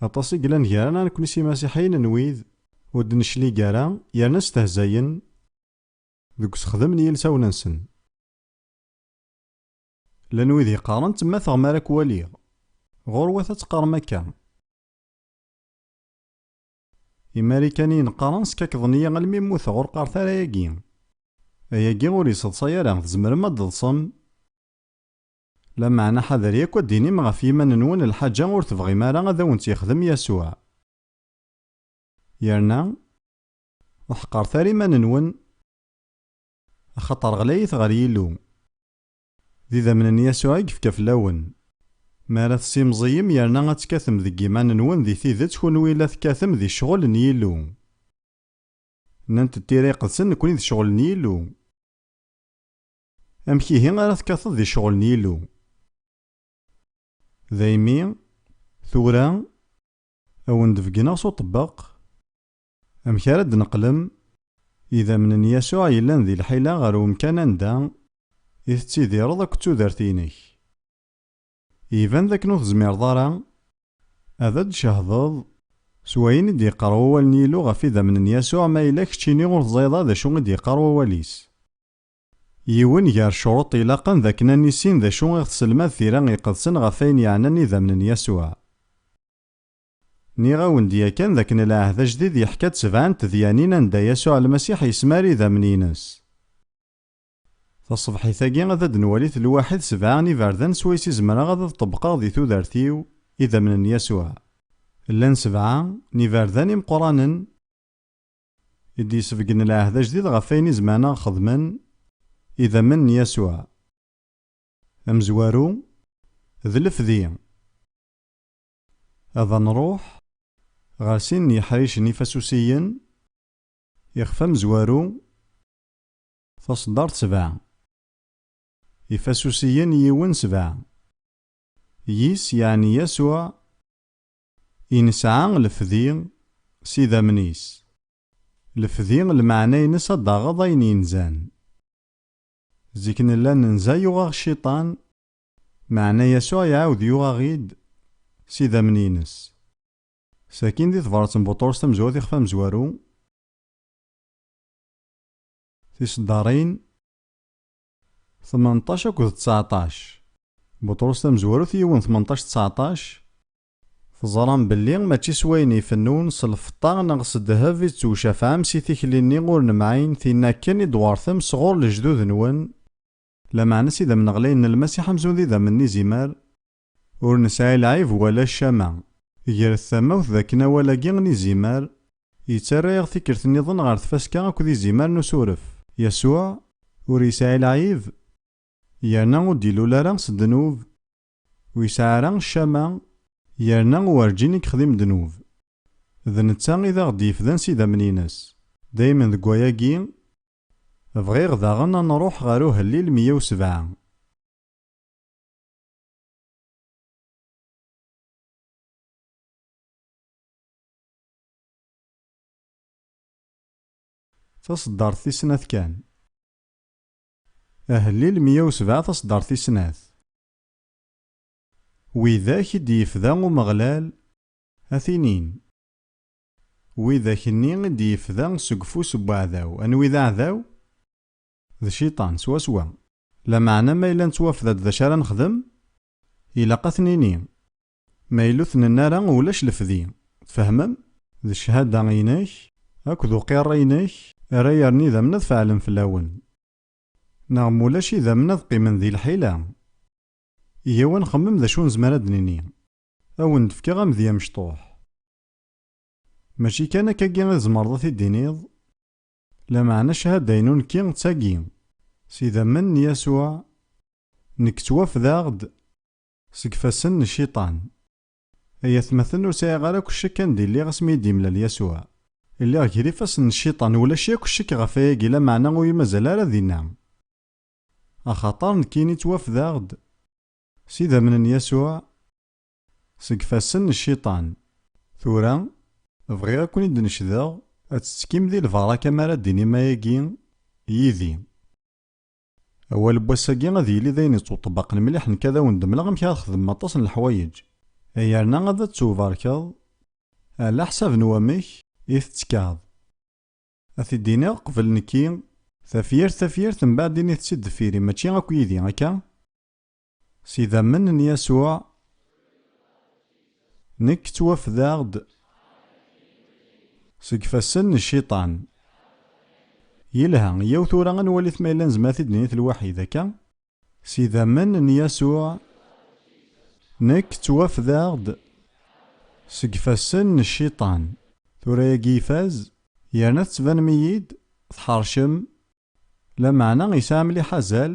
Aṭas i yellan gar-aneɣ nekkni s imasiḥiyen n wid ur d-neclig ara yerna stehzayen deg usexdem n yilsawen-nsen. Llan wid yeqqaren ttemmateɣ mi ara k-waliɣ. Ɣurwat ad teqqarem akka. Imarikaniyen qqaren skakkḍen-iyi almi mmuteɣ ur qqaret ara ayagi. Ayagi ur yesseḍsay ara, tzemrem ad d-teḍsem? Lameɛna ḥader yakk ad d-tinim ɣef yiman-nwen lḥaǧa ur tebɣim ara ad awen-tt-yexdem Yasuɛ. Yerna, ur ḥeqqret ara iman-nwen, axaṭer ɣlayit ɣer Yillu. D idammen n Yasuɛ i yefka fell-awen. Mi ara tessimẓiyem yerna ad tekkatem deg yiman-nwen di tidet kunwi la tekkatem di ccɣel n Yillu. Nnant-d Tira Iqedsen nekkni d ccɣel n Yillu. Amek ihi ara tekkateḍ di ccɣel n Yillu? Daymi, tura, a wen-d-beggneɣ s uṭebbeq amek ara d-neqlem idammen n Yasuɛ yellan di lḥila ɣer umkan anda i tettidireḍ akked tudert-inek. Iban d akken ur tezmireḍ ara ad d-tcehdeḍ s wayen i d-yeqqar Wawal n Yillu ɣef idammen n Yasuɛ ma yella keččini ur teẓẓayeḍ ara d acu i d-yeqqar Wawal-is. Yiwen gar ccruṭ ilaqen d akken ad nissin d acu i ɣ-tesselmad tira iqedsen ɣef wayen yeɛnan idammen n Yasuɛ. Nniɣ-awen-d yakan d akken Lɛehd Ajdid yeḥka-d sebɛa n tedyanin anda Yasuɛ Lmasiḥ yesmar idammen-ines. Taṣebḥit-agi ad d-nwalit lwaḥid sebɛa n iberdan swayes i zemreɣ ad ad-ṭebbqeɣ di tudert-iw idammen n Yasuɛ. Llan sebɛa n iberdan imeqqranen. I d-yesbeggen lɛehd ajdid ɣef wayen i zemɛen-aɣ xedmen idammen n Yasuɛ. Amezwaru, d lefdi. Ad anruḥ ɣer sin n yiḥricen ifasusiyen ixef amezwaru, taseddart sebɛa, ifasusiyen yiwen sebɛa, yis, yeɛni Yasuɛ, I nesɛa lefdi s idammen-is. Lefdi lmeɛna-ines ad d-taɣeḍ ayen yenzan. Zik nella nenza yuɣ-aɣ cciṭan, meɛna Yasuɛ iɛawed yuɣ-aɣ-id s idammen-ines. Sakkin di tebrat n Buṭrus tamezwarut ixef amezwaru, tiseddarin, Tmenṭac akked tseɛṭac. Buṭrus tamezwarut yiwen tmenṭac tseɛṭac, Teẓram belli mačči s wayen ifennun, s lfeṭṭa neɣ s ddheb i tettwcafɛem si tikli-nni ur nemɛin, tin akken i d-twertem s ɣur lejdud-nwen, lameɛna s idammen ɣlayen n Lmasiḥ amzun d idammen n izimer, Ur nesɛi lɛib wala ccama. Gret tamawt d akken awal-agi n izimer yettarra-yaɣ tikkelt nniḍen ɣer tfaska akked izimer n usuref. Yasuɛ ur yesɛi lɛib, yerna ur d-ilul ara s ddnub, ur yesɛi ara ccama, yerna werǧin i yexdim ddnub. D netta i d aɣ-d-yefdan s idammen-ines. Daymen deg wayagi, bɣiɣ daɣen ad nruḥ ɣer Uhellil meyya u sebɛa. Taṣeddart tis snat kan. Ahellil meyya u sebɛa Taṣeddart tis snat. Widak i d-yefda Umeɣlal a t-inin, Widak-nni i d-yefda seg ufus n weɛdaw, anwi d aɛdaw? D cciṭan, swaswa. Lameɛna ma yella nettwafda-d d acu ara nexdem, ilaq ad t-nini. Ma yella ur t-nenni ara, ulac lefdi. Tfehmem? D cchada-inek akked uqirri-inek ara yerren idammen ad feɛlen fell-awen. Neɣ ma ulac idammen ad qqimen di lḥila. Yyaw ad nxemmem d acu nezmer ad d-nini. Ad wen-d-fkeɣ amedya amecṭuḥ. Mačči kan akkagi i tzemreḍ ad t-id-tiniḍ? Lameɛna cchada-inu nekki d tagi, s idammen n Yasuɛ, nekk ttwafdaɣ-d seg ifassen n Cciṭan. Ay atmaten, ur sɛiɣ ara akk ccek anda i lliɣ asmi i d-yemlal Yasuɛ. Lliɣ ger ifassen n Cciṭan, ulac yakk ccek ɣef wayagi, lameɛna ur iyi-mazal ara dinna. Axaṭer nekkini ttwafdaɣ-d s idammen n Yasuɛ, Seg fassen n cciṭan. Tura, bɣiɣ ad ken-id-necdeɣ. Ad tettekim di lbaraka mi ara d-tinim ayagi yid-i. Awal n wass-agi ad yili d ayen yettweṭṭbaqen mliḥ. Nekk ad awen-d-mleɣ amek ara txedmem aṭas n leḥwayeǧ, yerna ad tt-tewbarkeḍ ɛlaḥsab n wamek i tettkeḍ. Ad t-id-iniɣ qbel nekki. Tafyirt tafyirt, mbaɛd ini-t-id deffir-i. Mačči akk yid-i, akka? S idammen n Yasuɛ, nekk ttwafdaɣ-d seg ifassen n Cciṭan. Yelha, yyaw tura ad nwalit ma yella nezmer ad t-id-nini telwaḥid, akka? S idammen n Yasuɛ, nekk ttwafdaɣ-d seg ifassen n Cciṭan. Tura yagi ifaz, yerna tettbanem-iyi-d tḥeṛcem Lameɛna yesɛa mliḥ azal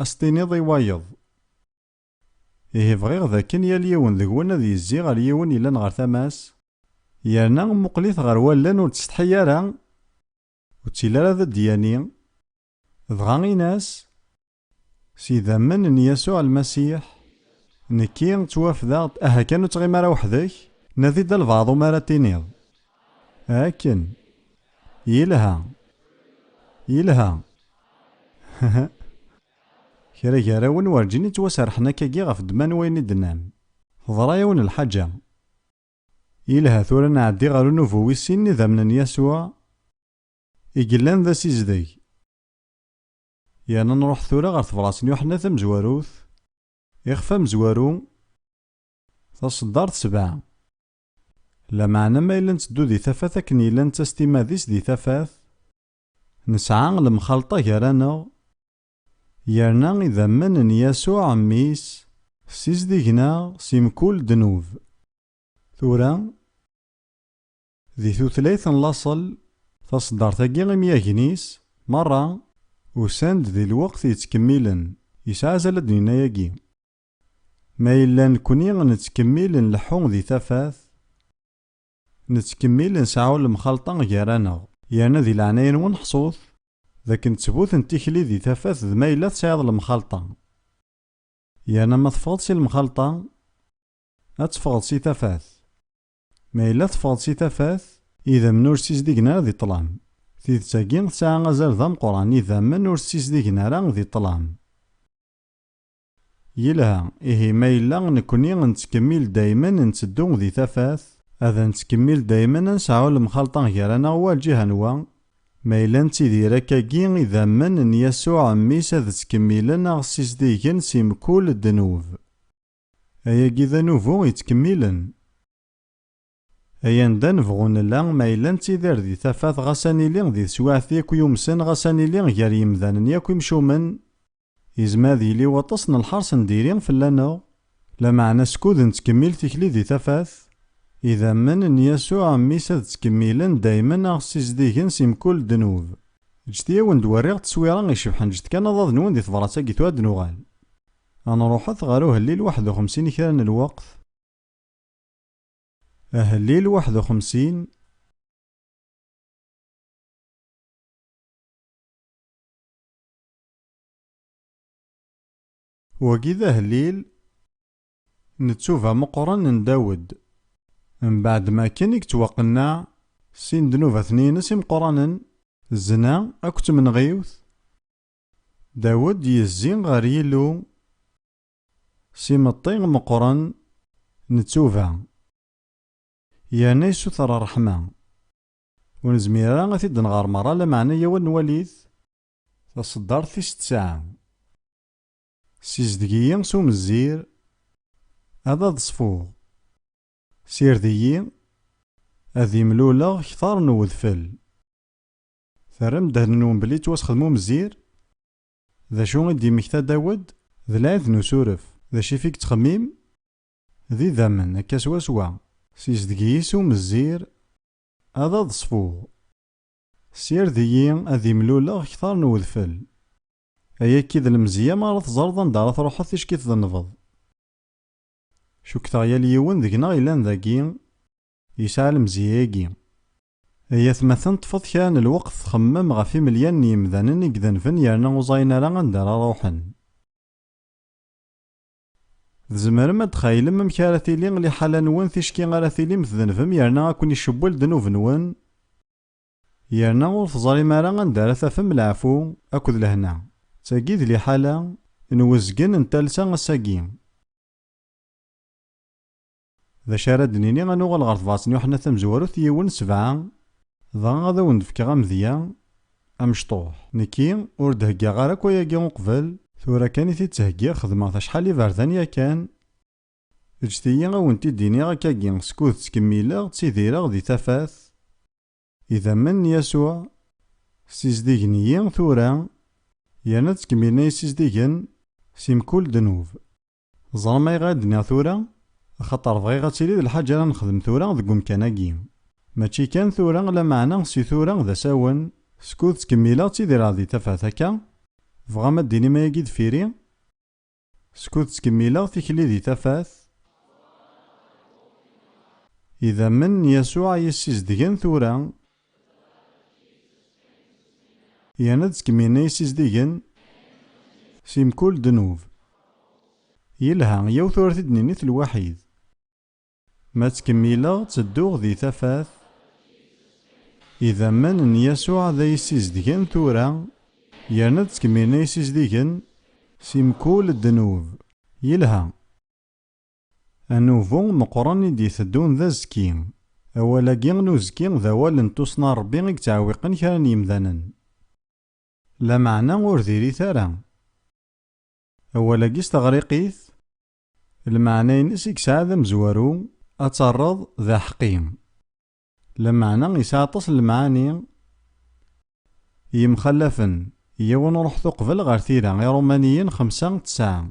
ad s-tiniḍ i wayeḍ. Ihi bɣiɣ d akken yal yiwen deg-wen ad yezzi ɣer yiwen yellan ɣer tama-s, yerna mmuqqel-it ɣer wallen ur d-tsetḥi ara, ur tt-ili ara d ddya-nni, dɣa in-as, S yidammen n Yasuɛ Lmasiḥ, nekki ttwafdeɣ-d. Aha kan ur ttɣim ara weḥd-k, nadi-d albaɛḍ umi ara tiniḍ, Akken! Yelha! Yelha! Hhh! Kra gar-awen werǧin i ttwaserrḥen akkagi ɣef ddemma n wayen i d-nnan. Teḍra-yawen lḥaǧa. Yelha, tura ad nɛeddi ɣer unubu wis sin n yidammen n Yasuɛ i yellan d asizdeg. Yerna nruḥ tura ɣer tebṛat n Yuḥenna Tamezwarut, ixef amezwaru, taṣeddart sebɛa. Lameɛna ma yella nteddu di tafat akken yella netta s timmad-is di tafat, nesɛa lemxalṭa gar-aneɣ, yerna idammen n Yasuɛ Mmi-s ssizdigen-aɣ si mkul ddnub. Tura, Di tutlayt n laṣel, taṣeddart-agi imyagen-is merra usan-d di lweqt yettkemmilen, yesɛa azal ad d-ninna yagi. Ma yella nekkni nettkemmil nleḥḥu di tafat, nettkemmil nseɛɛu lemxalṭa gar-aneɣ. Yerna di leɛnaya-nwen ḥṣut d akken ttbut n tikli di tafat d ma yella tesɛiḍ lemxalṭa. Yerna ma teffɣeḍ si lemxalṭa, ad teffɣeḍ si tafat. Ma yella teffɣeḍ si tafat. Idammen ur ssizdigen ara di ṭṭlam. Tidet-agi tesɛa azal d ameqqran, idammen ur ssizdigen ara di ṭṭlam. Yelha, ihi ma yella nekkni nettkemmil daymen ntteddu di tafat, ad nettkemmil daymen ad nesɛu lemxalṭa gar-aneɣ wa lǧiha n wa, ma yella nettidir akkagi idammen n Yasuɛ mmi-s ad ttkemmilen aɣ ssizdigen si mkul ddnub. Ayagi d anubu yettkemmilen. Ay anda nebɣu nella, ma yella nettidir di tafat ɣas ad nili di teswiɛt yakk yumsen ɣas ad nili gar yimdanen yakk imcumen, yezmer ad yili waṭas n lḥers n diri fell-aneɣ, lameɛna skud nettkemmil tikli di tafat, idammen n Yasuɛ Mmi-s ad ttkemmilen daymen a ɣ-ssizdigen si mkul ddnub. Ǧǧet-iyi a wen-d-werriɣ tteswira icebḥen, ǧǧet kan aḍad-nwen di tebrat-agi tura ad d-nuɣal. Ad nruḥet ɣer uhellil waḥed u xemsin i kra n lweqt. Ahellil waḥed u xemsin. Wagi d ahellil n ttuba meqqren n Dawed. Mbeɛd ma akken i yettwaqenneɛ sin dnubaten-ines imeqqranen, zzna akked tmenɣiwt, Dawed yezzi ɣer Yillu s imeṭṭi meqqren n ttuba, yerna yessuter ṛṛeḥma. Ur nezmir ara ad t-id-nɣer meṛṛa, lameɛna yaw ad nwali-t, Taṣeddart tis tesɛa. Ssizdeg-iyi s umezzir ad aḍ-ṣfuɣ, sired-iyi ad imluleɣ kteṛ n wedfel. Terram ddehn-nwen belli yettwasxedem umzir? D acu i d-yemmekta Dawed? D lɛid n usuref. D acu i t-id-yettxemmim? D idammen, akka swaswa. Sizdeg-iyi-s umzir, ad aḍ-ṣfuɣ. Ssired-iyi ad imluleɣ kter n wedfel. Ay akka i d lemzeyya m'ara teẓreḍ anda ara truḥeḍ ticki tdennbeḍ. Cukkteɣ yal yiwen deg-neɣ yellan dagi, yesɛa lemzeyya-agi. Ay atmaten ṭṭfet kra n lweqt txemmem ɣef imelyan n yemdanen i idenben yerna ur ẓayen ara anda ara ruḥen. Tzemrem ad txaylem amek ara tili liḥala nwen ticki ara tilim tdenbem yerna a ken-icewwel ddnub nwen yerna ur teẓrim ara anda ara tafem leɛfu akked lehna. D tagi i d liḥala n uzgen n talsa ass-agi. D acu ara d-nini, ad nuɣal ɣer tebrat n Yuḥenna Tamezwarut yiwen, sebɛa, dɣa ad awen-d-fkeɣ amedya amecṭuḥ. Nekki, ur d-heggaɣ ara akk ayagi uqbel, tura kan i t-id-ttheggiɣ, xedmeɣ-t acḥal n yiberdan yakan, eǧǧet-iyi ad wen-t-id-iniɣ akkagi, skud ttkemmileɣ ttidireɣ di tafat, idammen n Yasuɛ ssizdigen-iyi tura, yerna ttkemmilen a yi-ssizdigen si mkul ddnub. Teẓram ayɣer i d-nniɣ tura? Axaṭer bɣiɣ ad tili d lḥaǧa ara nexdem tura deg umkan-agi. Mačči kan tura, lameɛna si tura d asawen, skud ttkemmileɣ ttidireɣ di tafat akka, tebɣam ad d-tinim ayagi deffir-i? Skud ttkemmileɣ tikli di tafat, idammen n Yasuɛ i yi-ssizdgen tura, Yerna d tkemina yessizdigen si mkul ddnub. Yelha, yiwet ur t-id-ninit lwaḥid. Ma ttkemmileɣ ttedduɣ di tafat, idammen n Yasuɛ ad ay-ssizedgen tura, yerna d tkemina yessizdigen si mkul ddnub. Yelha. Anubu meqqren i d-iteddun d azekki. Awal-agi n uzekki d awal n tussna n Rebbi i yettɛewiqen kra n yemdanen. Lameɛna ur diri-t ara. Awal-agi s teɣriqit, lmeɛna-ines i yesɛa d amezwaru, ad terreḍ d aḥeqqi. Lameɛna yesɛa aṭas n lemɛani yemxallafen, yiwen ruḥet uqbel ɣer tira, Irumaniyen xemsa, tesɛa.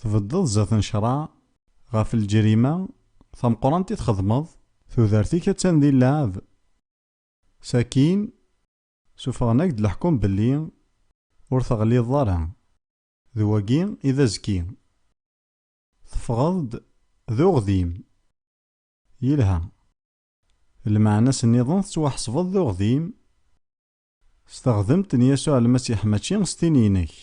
Tbeddeḍ zdat n ccṛeɛ ɣef lǧerima tameqqrant i txedmeḍ. Tudert-ik attan di lleɛeb. Sakin, suffɣen-ak-d leḥkum belli ur teɣliḍeḍ ara. D wagi i d azekki. Teffɣeḍ-d d uɣdim. Yelha. Lmeɛna-s nniḍen tettwaḥesbeḍ d uɣdim s teɣdemt n Yasuɛ Lmasiḥ mačči s tin-inek.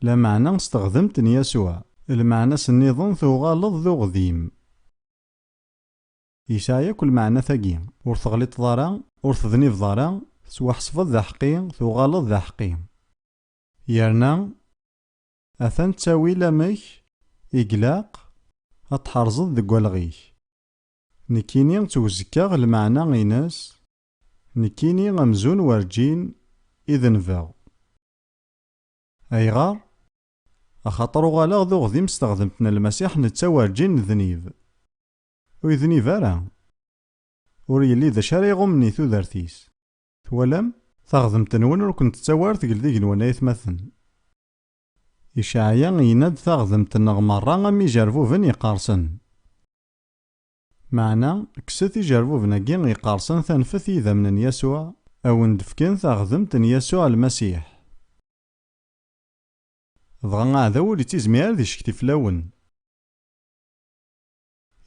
Lameɛna s teɣdemt n Yasuɛ. Lmeɛna-s nniḍen tuɣaleḍ d uɣdim. Yesɛa yakk lmeɛnat-agi. Ur teɣliṭeḍ ara, ur tednibeḍ ara, tettwaḥesbeḍ d aḥeqqi, tuɣaleḍ d aḥeqqi. Yerna, atan ttawil amek i glaq ad tḥerzeḍ deg walɣ-ik. Nekkini ttwzekkaɣ lmeɛna-ines, nekkini amzun werǧin i denbeɣ. Ayɣer? Axaṭer uɣaleɣ d uɣdim s teɣdemt n Lmasiḥ netta werǧin nednib. Ur yednib ara. Ur yelli d acu ara iɣummen i tudert-is. Twalam? Taɣdemt-nwen ur kent-tettawi ara tegl d igenwan a aytmaten. Icaɛya yenna-d taɣdemt-nneɣ merra am ijerbuben yeqqersen. Meɛna, kkset ijerbuben-agi iqersen tanfet i yidammen n Yasuɛ, a wen-d-fken taɣdemt n Yasuɛ Lmasiḥ. Dɣa aɛdaw ur ittizmir ara ad iccekti fell-awen.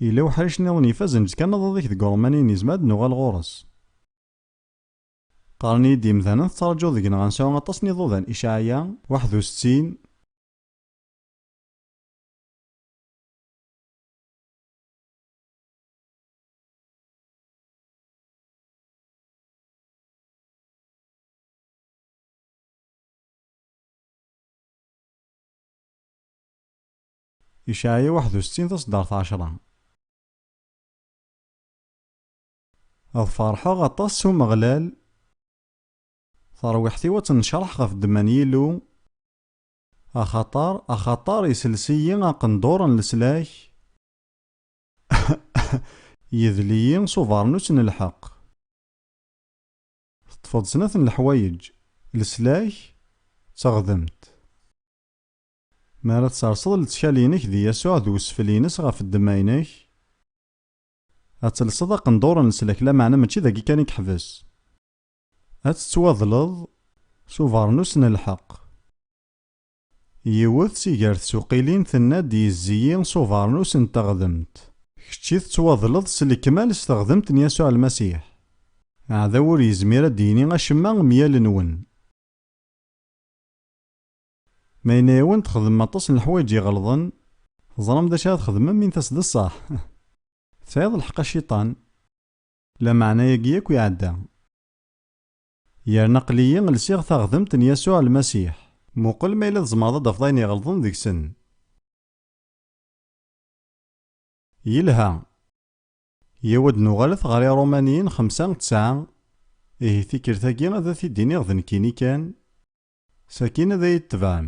Yella weḥric nniḍen ifazen d kanaḍaḍ i k deg Urumani nezmer ad nuɣal ɣur-s? Qqaren-iyi-d yimdanen tettraǧuḍ deg-neɣ ad nesɛu aṭas n yiḍudan Icaɛya, waḥed u settin, Icaɛiya waḥed u settin taṣeddart ɛecra. Ad ferḥeɣ aṭas s Umeɣlal, tarwiḥt-iw ad tennecraḥ ɣef ddemma n Yillu, Axaṭer, axaṭer isels-iyi aqendur n leslak, yedel-iyi s ubeṛnus n lḥeqq. Teṭṭfeḍ snat n leḥwayeǧ, leslak d teɣdemt. Mi ara tserseḍ lettkal-inek di Yasuɛ d wesfel-ines ɣef ddemma-inek, ad telseḍ aqendur n leslak, lameɛna mačči dagi kan i yeḥbes. Ad tettwaḍleḍ s ubernus n lḥeqq. Yiwet si gar tsuqilin tenna-d yezzi-yi s ubernus n teɣdemt. Kečči tettwaḍleḍ s lekmal s teɣdemt n Yasuɛ Lmasiḥ. Aɛdaw ur yezmir ad d-yini acemma myalenwen. Ma yenna-yawen txedmem aṭas n leḥwayeǧ iɣelḍen, teẓram d acu ara txedmem mi n-tas d ṣṣeḥ? Tesɛiḍ lḥeqq a Cciṭan! Lameɛna-agi akk iɛedda. Yerna aql-iyi lsiɣ taɣdemt n Yasuɛ Lmasiḥ. Muqel ma yella tzemreḍ ad d-tafeḍ ayen iɣelḍen deg-sen. Yelha. Yaw ad nuɣalet ɣer Iṛumaniyen xemsa, tesɛa, ihi tikkelt-agi ad t-id-iniɣ d nekkini kan, sakin ad iyi-d-tebɛem.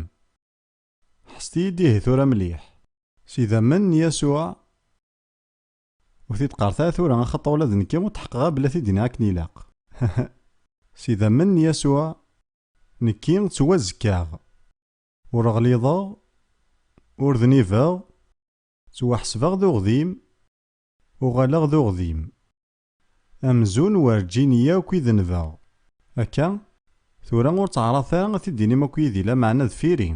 Ḥesset-iyi-d ihi tura mliḥ. S idammen n Yasuɛ. Ur t-id-qqaret ara tura axaṭer ula d nekki ur tḥeqqeɣ ara belli ad t-id-iniɣ akken ilaq. S idammen n Yasuɛ, nekki ttwazekkaɣ. Ur ɣliḍeɣ, ur dnibeɣ, ttwaḥesbeɣ d uɣdim, uɣaleɣ d uɣdim. Amzun werǧin yakk i denbeɣ. Akka? Tura ur ttaɛraḍet ara ad t-id-tinim akk yid-i, lameɛna deffir-i.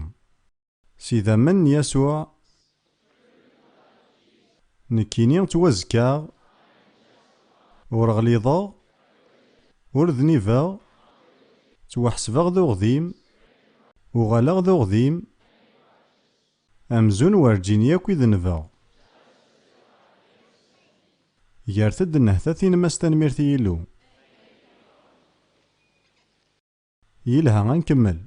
S idammen n Yasuɛ, nekkini ttwazekkaɣ, ur ɣliḍeɣ, ur dnibeɣ, ttwaḥesbeɣ d uɣdim, uɣaleɣ d uɣdim, amzun werǧin yakk i denbeɣ. Gret-d nnehta-t-inem-as tanemmirt i Yillu. Yelha a nkemmel.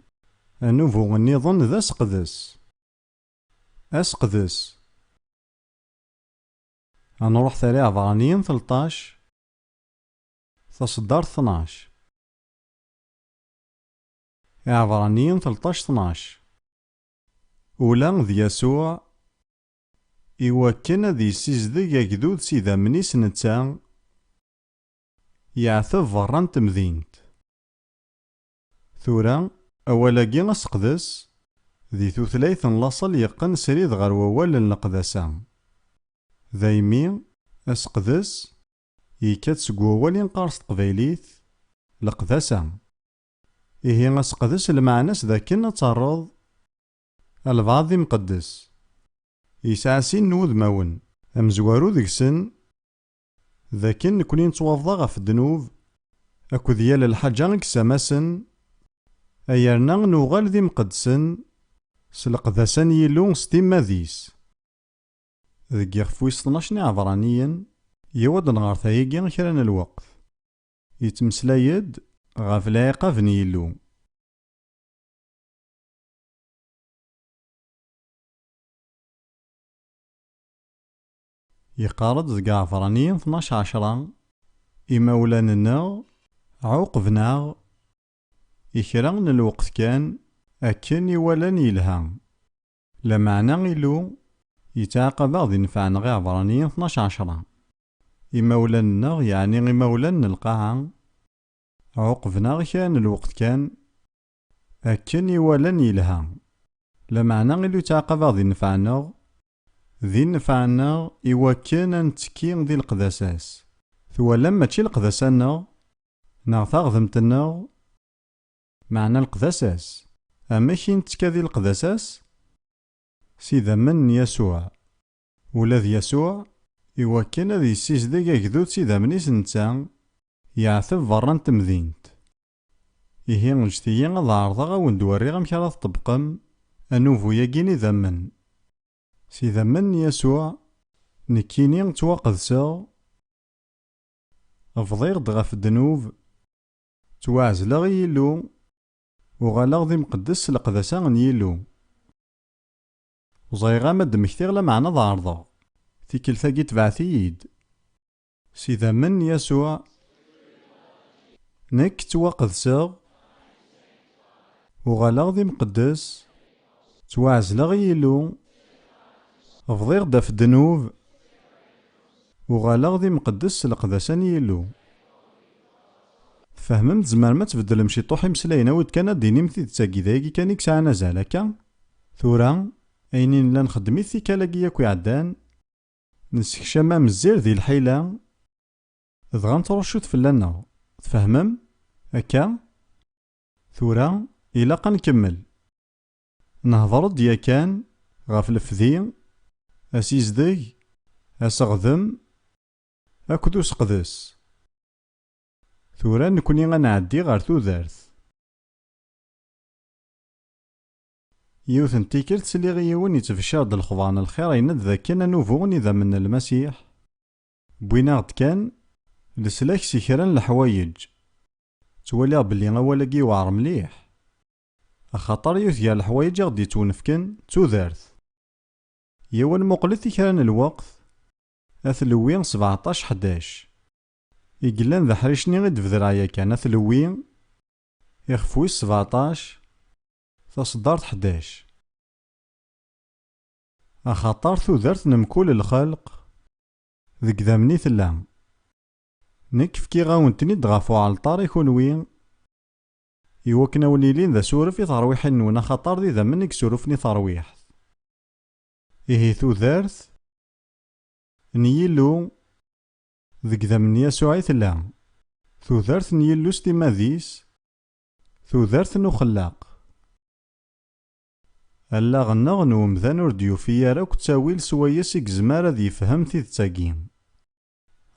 Anubu nniḍen d aseqdes. Aseqdes. A nruḥ tala iɛebṛaniyen telṭac, taṣeddart tnac. Iɛebṛaniyen telṭac tnac. Ula d Yasuɛ, i wakken ad yessizdeg agdud s idammen-is netta, yeɛteb beṛṛa n temdint. Tura, awal-agi aseqdes, di tutlayt n laṣel yeqqen srid ɣer wawal n leqdasa. Daymi, aseqdes, yekka-d seg wawal i nqar s teqbaylit, leqdasa. Ihi aseqdes lmeɛna-s d akken ad terreḍ albeɛḍ d imqeddes. Yesɛa sin n wudmawen. Amezwaru deg-sen, D akken nekkni nettwabḍa ɣef ddnub akked yal lḥaǧa i yessamasen, a yerna nuɣal d imqeddsen s leqdasa n Yillu s timmad-is. Deg yixef wis tnac n Iɛebraniyen yewweḍ-d nɣer tayagi kra n lweqt, yettmeslay-d ɣef lɛiqab n Yillu. Yeqqar-d deg Ɛebṛani tnac ɛecṛa, Imawlan-nneɣ ɛuqben-aɣ i kra n lweqt kan akken i walan yelha. Lameɛna Illu yettɛaqab-aɣ di nnfeɛ neɣ Iɛebṛani tnac ɛecṛa, Imawlan-nneɣ, yeɛni imawlan n lqaɛa, ɛuqben-aɣ i kra n lweqt kan Akken i walan yelha. Lameɛna Illu yettɛaqab-aɣ di nnfeɛ-nneɣ, di nnfeɛ-nneɣ i wakken ad nettekki di leqdasa-s. Twalam mačči leqdasa-nneɣ, neɣ taɣdemt-nneɣ, meɛna leqdasa-s. Amek i nettekka di leqdasa-s? S idammen n Yasuɛ. Ula d Yasuɛ, i wakken ad yessizdeg agdud s idammen-is netta, yeɛteb berra n temdint. Ihi ǧǧet-iyi ad ɛerḍeɣ a wen-d-werriɣ amek ara tṭebbqem anubu-yagi n idammen. S idammen n Yasuɛ, nekkini ttwaqedseɣ, bḍiɣ-d ɣef ddnub, ttwaɛezleɣ i Yillu, uɣaleɣ d imqeddes s leqdasa n Yillu. Ẓriɣ-am ad d-mmektiɣ lameɛna ad ɛerḍeɣ, tikkelt-agi tebɛet-iyi-d. S idammen n Yasuɛ, nekk ttwaqedseɣ, uɣaleɣ d imqeddes, ttwaɛezleɣ i Yillu, bḍiɣ-d ɣef ddnub, uɣaleɣ d imqeddes s leqdasa n Yillu. Tfehmem, tzemrem ad tbeddlem ciṭuḥ imeslayen, awi-d kan ad d-tinim tidet-agi, d ayagi kan i yesɛan azal, akka? Tura, ayen i nella nxeddem-it tikkal-agi yakk iɛeddan, Nessekcam amezzir di lḥila, dɣa nettruccu-t fell-aneɣ. Tfehmem? Akka? Tura, ilaq ad nkemmel. Nehder-d yakan ɣef lefdi, asizdeg, aseɣdem akked useqdes. Tura, nekni ad nɛeddi ɣer tudert. Yiwet n tikkelt, sliɣ i yiwen yettbecciṛ-d lexbaṛ n lxiṛ, yenna-d d akken anubu n idammen n Lmasiḥ, wwin-aɣ-d kan leslak si kra n leḥwayeǧ. Ttwaliɣ belli awal-agi yewɛeṛ mliḥ, axaṭer yiwet gar leḥwayeǧ i ɣ-d-yettwenefken d tudert. Yiwen muqlet i kra n lweqt, At Lewwi sbeɛṭac ḥdac. I yellan d aḥric-nni i d-bedreɣ yakan, At Lewwi ixef wis sbeɛṭac, Taṣeddart ḥdac. Axaṭer tudert n mkul lxelq deg idammen i tella. Nekk fkiɣ-awen-ten-id ɣef uɛalṭar i kunwi, i wakken a wen-ilin d asuref i terwiḥin-nwen axaṭer d idammen i yesurufen i terwiḥt. Ihi tudert n Yillu deg idammen n Yasuɛ i tella. Tudert n Yillu s timmad-is Tudert n uxellaq. Allaɣ-nneɣ n umdan ur d-yufi ara akk ttawil s wayes i yezmer ad yefhem tidet-agi.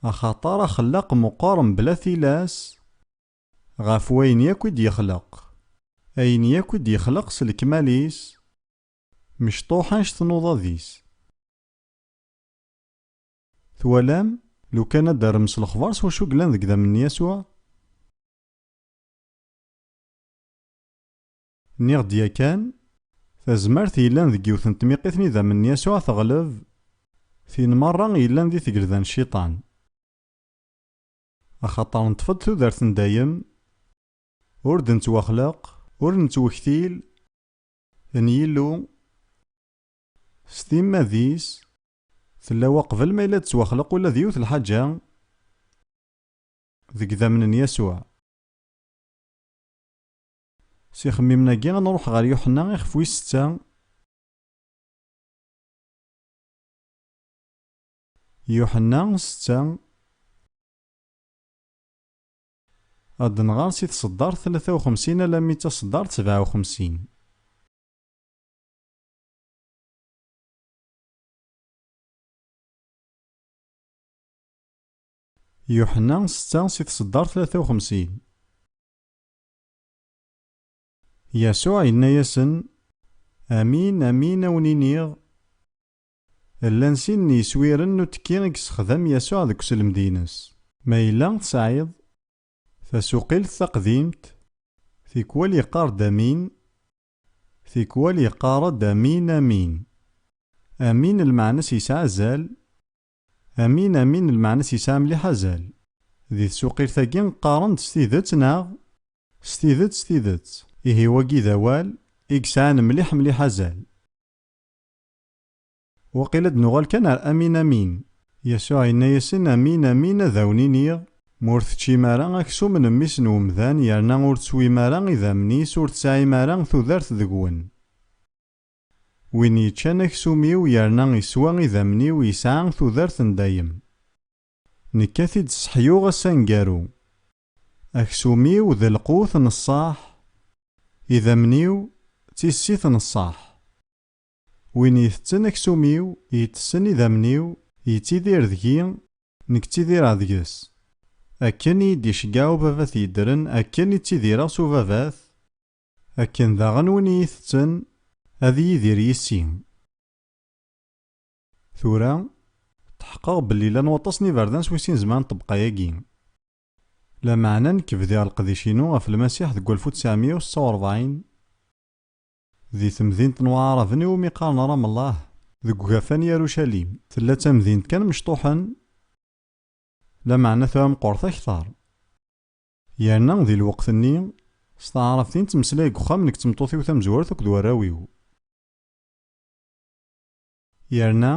Axaṭer axellaq meqqer mebla tilas ɣef wayen yakk i d-yexleq. Ayen yakk i d-yexleq s lekmal-is mecṭuḥ anect tnuḍa-dis. Twalam? Lukan ad d-terrem s lexbar s wacu yellan deg idammen n Yasuɛ? Nniɣ-d yakan, tazmert yellan deg yiwet n tmiqit n idammen n Yasuɛ teɣleb tin merra yellan di tgelda n Cciṭan. Axaṭer neṭṭef-d tudert n dayem, ur d-nettwaxleq, ur nettwektil, n Yillu, s timmad-is, tella waqbel ma yella d-tettwaxleq ula d yiwet lḥaǧa, deg idammen n Yasuɛ. S ixemmimen-agi, ad nruḥ ɣer Yuḥenna ixef wis setta. Yuḥenna setta. Ad nɣer si tseddart tlata uxemsin alammi d taseddart sebɛa uxemsin. Yuḥenna setta si tseddart tlata uxemsin. Yasuɛ yenna-yasen, Amin, amin, a wen-iniɣ, llan sin n yiswiren n uttekki i yessexdam Yasuɛ deg uselmed-ines. Ma yella tesɛiḍ tasuqilt taqdimt, tikwal yeqqar-d amin, tikwal yeqqar-d amin, amin. Amin lmeɛna-s yesɛa azal, Amin amin lmeɛna-s yesɛa mliḥ azal. Di tsuqilt-agi qqaren-d s tidet neɣ? S tidet s tidet. Ihi wagi d awal i yesɛan mliḥ mliḥ azal. Waqil ad nuɣal kan ar amin amin. Yasuɛ yenna-yasen amin amin ad awen-iniɣ, ma ur teččim ara aksum n mmi-s n wemdan yerna ur teswim ara idammen-is ur tesɛim ara tudert deg-wen. Win yeččan aksum-iw yerna iswa idammen-iw yesɛa tudert n dayem. Nekk a t-id-sseḥyuɣ ass aneggaru. Aksum-iw d lqut n ṣṣaḥ, idammen-iw d tissit n ṣṣaḥ. Win itetten aksum-iw itessen idammen-iw yettidir deg-i, nekk ttidireɣ deg-s. Akken i yi-d-iceggeɛ ubabat yeddren akken i ttidireɣ s ubabat, Akken daɣen win iyi-tetten ad yidir yis-i. Tura, tḥeqqeɣ belli llan waṭas n iberdan s wis-in zemren ṭṭebqa-agi. Lameɛna nekk bdiɣ leqdic-inu ɣef Lmasiḥ deg walef u ttɛemya u setta u rebɛin, di temdint n Waɛaraben i wumi qqaren Ramallah, deg ugafa n Yarucalim. Tella d tamdint kan mecṭuḥen, lameɛna tura meqqret akteṛ. Yerna di lweqt-nni, s taɛrabt i nettmeslay deg uxxam nekk d tmeṭṭut-iw tamezwart akked warraw-iw. Yerna,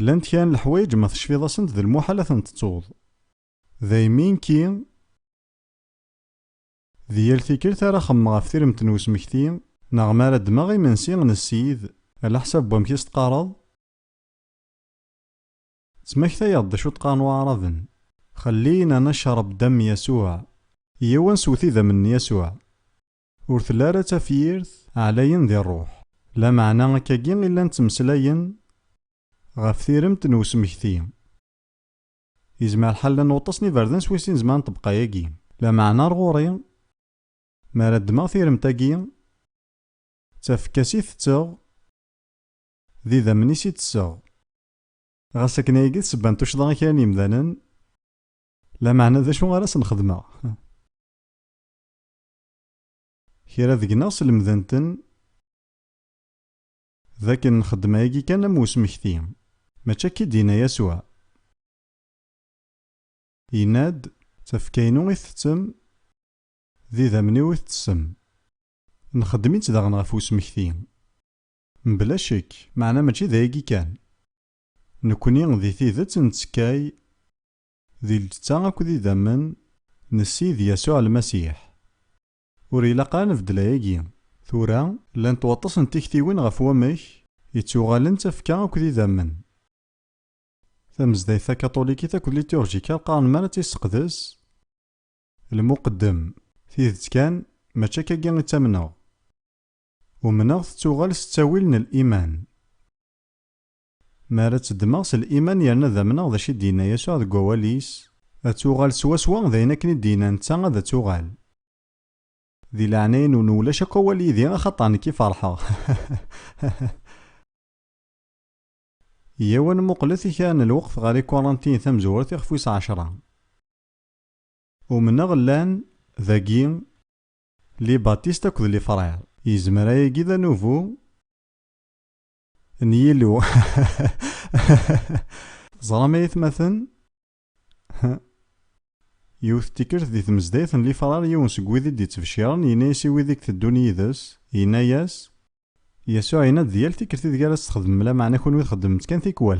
llant kra n leḥwayeǧ ma tecfiḍ-asent d lmuḥal ad ten-tettuḍ. Daymi, nekki, di yal tikelt ara xemmemeɣ ɣef tiremt n wesmekti, neɣ mi ara ddmeɣ imensi n ssid, alaḥsab n wamek i s-teqqareḍ? Ttmaktayeɣ-d d acu ṭqaren waɛraben, Xellina nacreb dam Yasuɛ, Yyaw ad nsew tidam n Yasuɛ. Ur telli ara d tafyirt, ɛlayen di ṛṛuḥ. Lameɛna akka-agi i llan ttmeslayen ɣef tiremt n usmekti. Yezmer lḥal llan waṭas n iberdan s wis-sin zemren ṭṭebqa-agi. Lameɛna ar ɣur-i, mi ara ddmeɣ tiremt-agi, d tafekka-s i tetteɣ, d idammen-is i tesseɣ. Ɣas akken ayagi d sebba n tuccḍa i kra n yemdanen, lameɛna d acu ara sen-xedmeɣ? Kra deg-neɣ slemden-ten d akken nxeddem ayagi kan am usmekti. Mačči akka i d-yenna Yasuɛ. Yenna-d, Tafekka-inu i ttettem, d idammen-iw i tettessem. Nxeddem-itt daɣen ɣef usmekti. Mebla ccek, meɛna mačči d ayagi kan. Nekkni di tidet nettekkay di lǧetta akked idammen n Ssid Yasuɛ Lmasiḥ. Ur ilaq ara nbeddel ayagi. Tura, llant waṭas n tiktiwin ɣef wamek ittuɣalen d tafekka akked idammen. Tamezdayt takaṭulikit akked liturjika qqaren mi ara tt-isseqdes lmuqeddem, Tidet kan, mačči akkagi i ttamneɣ. Umneɣ tettuɣal s ttawil n liman. Mi ara tt-ddmeɣ s liman yerna ad amneɣ d acu i d-yenna Yasuɛ deg wawal-is, ad tuɣal swaswa d ayen akken i d-yenna netta ad tuɣal. Di leɛnaya-nwen ulac akk awal yid-i axaṭer nekk i ferḥeɣ. Yyaw ad nmuqlet i kra n lweqt ɣer Ikurantiyen tamezwert ixef wis ɛecṛa. Umneɣ llan, dagi, Les Baptistes akked les Frères. Yezmer ayagi d anubu n yilu. Teẓram ay atmaten? Yiwet n tikkelt di tmezdayt n Lifrar yiwen seg wid i d-yettbecciren yenna-as i wid i iteddun yid-s, yenna-as, Yasuɛ yenna-d di yal tikkelt ideg ara tt-txedmem, lameɛna kunwi txeddmem-tt kan tikwal.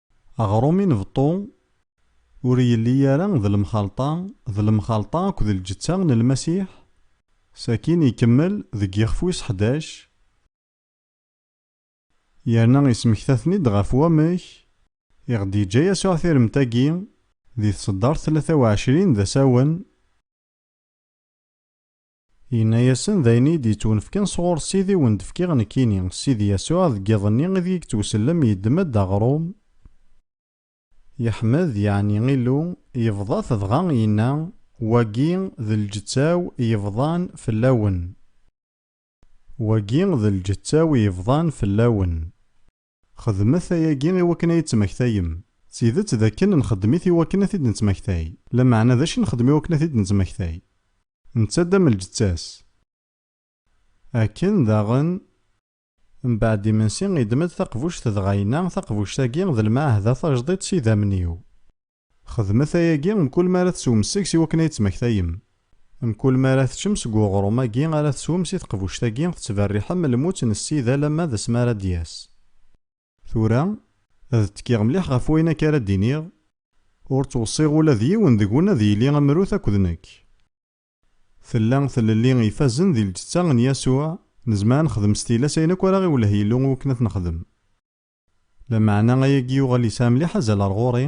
Aɣrum inbeṭṭu ur yelli ara d lemxalṭa d lemxalṭa akked lǧetta n Lmasiḥ, sakin ikemmel deg yixef wis ḥdac, yerna ismekta-ten-id ɣef wamek i ɣ-d-yeǧǧa Yasuɛ tiremt-agi di tseddart tlata u ɛecrin d asawen, Yenna-yasen, D ayen iyi-d-yettwenefken sɣur Ssid i wen-d-fkiɣ nekkini. Ssid Yasuɛ, deg yiḍ-nni ideg i yettwsellem, yeddem-d aɣrum, yeḥmed, yeɛni Illu, yebḍa-t dɣa yenna, Wagi d lǧetta-w yebḍan fell-awen. Wagi d lǧetta-w yebḍan fell-awen. Xedmet ayagi i wakken a yi-d-ttmaktayem. D tidet d akken nxeddem-it i wakken a t-id-nettmaktay. Lameɛna d acu i nxeddem i wakken a t-id-nettmaktay? Nettadd am lǧetta-s. Akken daɣen. Mbeɛd imensi, yeddem-d taqbuct dɣa yenna, Taqbuct-agi d lmeɛhda tajdiṭ s idammen-iw. Xedmet ayagi mkul mi ara teswem seg-s iwakken ad yettmektayem. Mkul mi ara teččem seg uɣrum-agi ara teswem si teqbuct-agi tettberriḥem lmut n Ssida alamma d asmi ara d-yas. Tura, ad ttekkiɣ mliḥ ɣef wayen akka ara d-iniɣ. Ur ttweṣṣiɣ ula d yiwen deg-wen ad yili amrut akked nekk. Tella tlelli ifazen di lǧetta n Yasuɛ, nezmer ad nexdem s tilas ayen akk ara ɣ-iwelleh Yillu iwakken ad t-nexdem. Lameɛna ayagi yuɣal yesɛa mliḥ azal ar ɣur-i,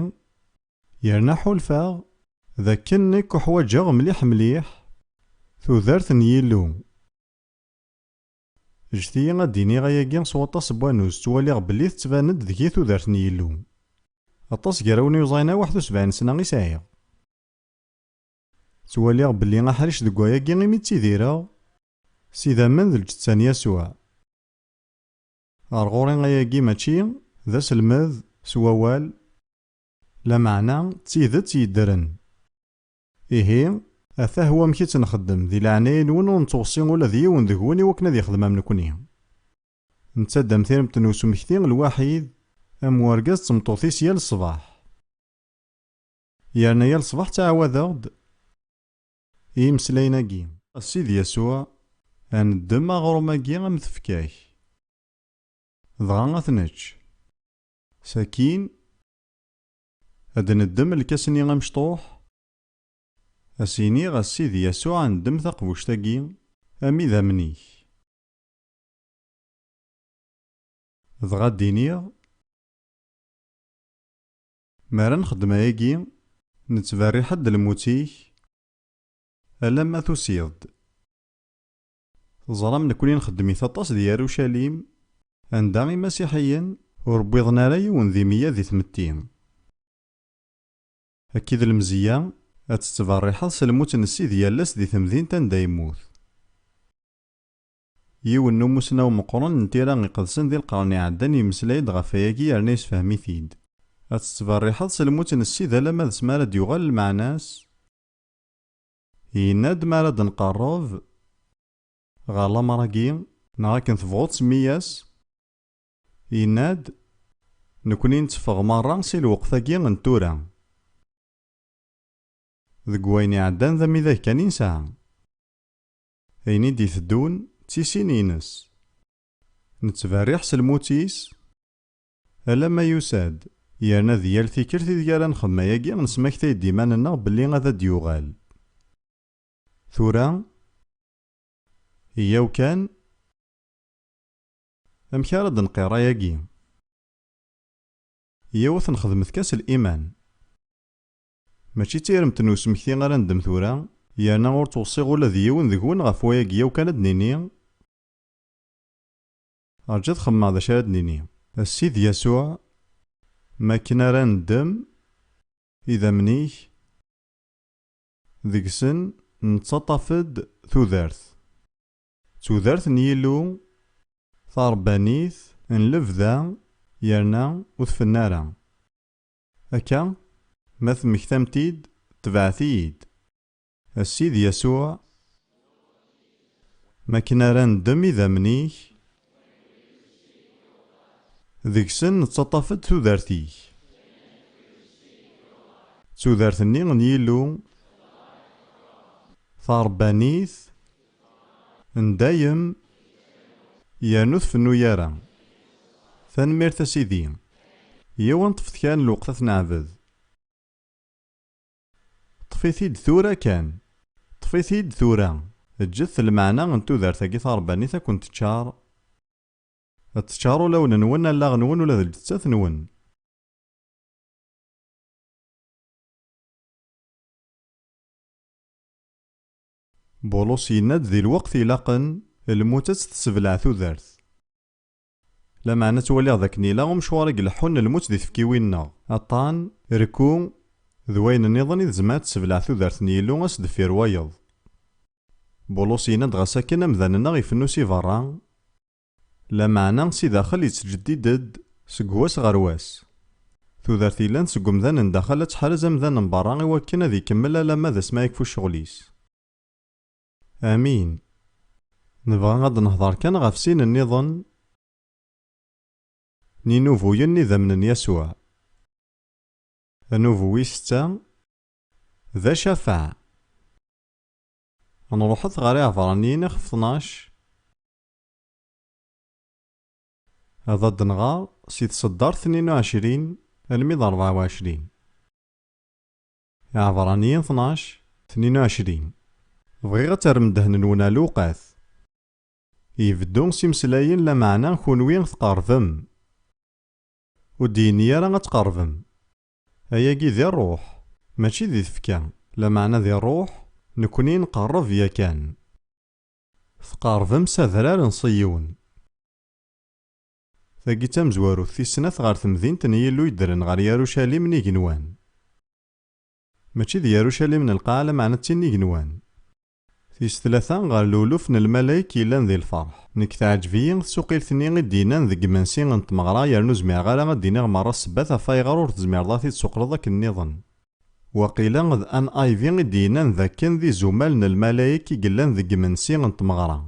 yerna ḥulfaɣ d akken nekk uḥwaǧeɣ mliḥ mliḥ tudert n Yillu. Ǧǧet-iyi ad d-iniɣ ayagi s waṭas n wannuz ttwaliɣ belli tettban-d deg-i tudert n Yillu. Aṭas gar awen yuẓayen aweḥd u sebɛin sna i sɛiɣ. Ttwaliɣ belli aḥric deg wayagi imi ttidireɣ s idammen d lǧetta n Yasuɛ. Ɣer ɣur-i ayagi mačči d aselmed s wawal, lameɛna d tidet yeddren. Ihi, atah wamek i tt-nxeddem, di leɛnaya-nwen ur nettweṣṣi ula d yiwen deg-wen iwakken ad yexdem am nekkni. Netta-d am tiremt n usmekti lwaḥid, am urgaz d tmeṭṭut-is yal ṣṣbeḥ. Yerna yal ṣṣbeḥ ttɛawadeɣ-d. i yimeslayen-agi. A Sidi Yasuɛ, ad neddem aɣrum-agi am tefka-k, dɣa ad t-nečč. Sakkin, ad d-neddem lkas-nni amecṭuḥ, ad s-iniɣ, A Sidi Yasuɛ, ndem taqbuct-agi am idammen-ik. Dɣa ad d-iniɣ. Mi ara nxeddem ayagi, nettberriḥ-d lmut-ik alamma tusiḍ-d. Teẓram nekkni nxeddem-it aṭas di Yarucalim, anda Imasiḥiyen ur wwiḍen ara yiwen di meyya di tmetti. Akka i d lemzeyya ad tettberriḥeḍ s lmut n Ssid yal ass di temdint anda yemmut. Yiwen n umussnaw meqqren n tira iqedsen di lqern iɛeddan yemmeslay-d ɣef wayagi yerna yessefhem-it-id. Ad tettberriḥeḍ s lmut n Ssid alamma d s mi ara d-yuɣal lmeɛna-s? Yenna-d, Mi ara d-nqerreb ɣer lamer-agi. Neɣ akken tebɣuḍ semmi-yas. Yenna-d, Nekkni nteffeɣ merra si lweqt-agi n tura. Deg wayen iɛeddan d amidag kan i nesɛa. Ayen i d-iteddun d tisin-ines. Nettberriḥ s lmut-is alamma yusa-d, yerna di yal tikelt ideg ara nxemmem ayagi nesmaktay-d iman-nneɣ belli ad d-yuɣal. Tura, yyaw kan, amek ara d-nqirr ayagi? Yiwet nxedmet kan s liman. Mačči d tiremt n usmekti ara neddem tura, yerna ur ttweṣṣiɣ ula d yiwen deg-wen ɣef wayagi yaw kan ad d-nini, Rju ad xemmemeɣ d acu ara d-nini. A Ssid Yasuɛ, mi akken ara neddem idammen-ik deg-sen nettaṭṭaf-d tudert, tudert n Yillu taṛebbanit n lebda yerna ur tfenna ara, Akka, ma temmektam-t-id, tebɛet-iyi-d. A Ssid Yasuɛ, m akken ara neddem idammen-ik, deg-sen nettaṭṭaf-d tudert-ik, d tudert-nni n Yillu, taṛebbanit, N dayem yernu ur tfennu ara. Tanemmirt a Sidi. Yiwen ṭṭfet kan lweqt ad t-neɛbed. Ṭṭef-it-id tura kan. Ṭṭef-it-id tura. Ǧǧet lmeɛna n tudert-agi tarebbanit ad ken-teččar, ad teččar ulawen-nwen, allaɣ-nwen ula d lǧettat-nwen. Bulus yenna-d di lweqt ilaqen, lmut ad tt-tessebleɛ tudert. Lameɛna ttwaliɣ d akken ila umecwar i ileḥḥun lmut di tfekkiwin-nneɣ, aṭṭan, rekku, d wayen nniḍen i tzemmer ad tessebleɛ tudert n Yillu ass deffir wayeḍ. Bulus yenna-d ɣas akken amdan-nneɣ ifennu si berra, Lameɛna si daxel yettjeddid-d seg wass ɣer wass. Tudert yellan seg umdan n daxel ad tḥrez amdan n berra i wakken ad ikemmel alamma d asmi ara yekfu ccɣel-is. Amin. Nebɣa ad d-nehder kan ɣef sin nniḍen n yinubuyen n idammen n Yasuɛ. Anubu wis setta d Acafaɛ. Nruḥet ɣer Iɛebṛaniyen ixef tnac Ad ad-nɣer si tseddart tnin u ɛecrin almi d rebɛa u ɛecrin. Iɛebraniyen tnac, tnin u ɛecrin. Bɣiɣ ad terrem ddehn-nwen ɣer lewqat. Ibeddu s imeslayen lameɛna kunwi tqerbem. Ur d-yenni ara ad tqerbem. Ayagi di rruḥ, mačči di tfekka. Lameɛna di rruḥ, nekni nqerreb yakan. Tqeṛbem s Adrar n Ṣiyun. Tagi d tamezwarut tis snat ɣer temdint n Yillu yeddren ɣer Yarucalim n igenwan. Mačči d Yarucalim n lqaɛa lameɛna d tin n igenwan. Tis tlata, ɣer luluf n lmalayek yellan di lfeṛḥ. Nekk teɛǧeb-iyi tsuqilt-nni i d-yennan deg yimensi n tmeɣra yerna ur zmireɣ ara ad d-iniɣ meṛṛa ssebbat ɣef wayɣer ur tezmireḍ ad t-id-suqleḍ akken nniḍen. Waqila d NIV i d-yennan d akken d izumal n lmalayek i yellan deg yimensi n tmeɣra.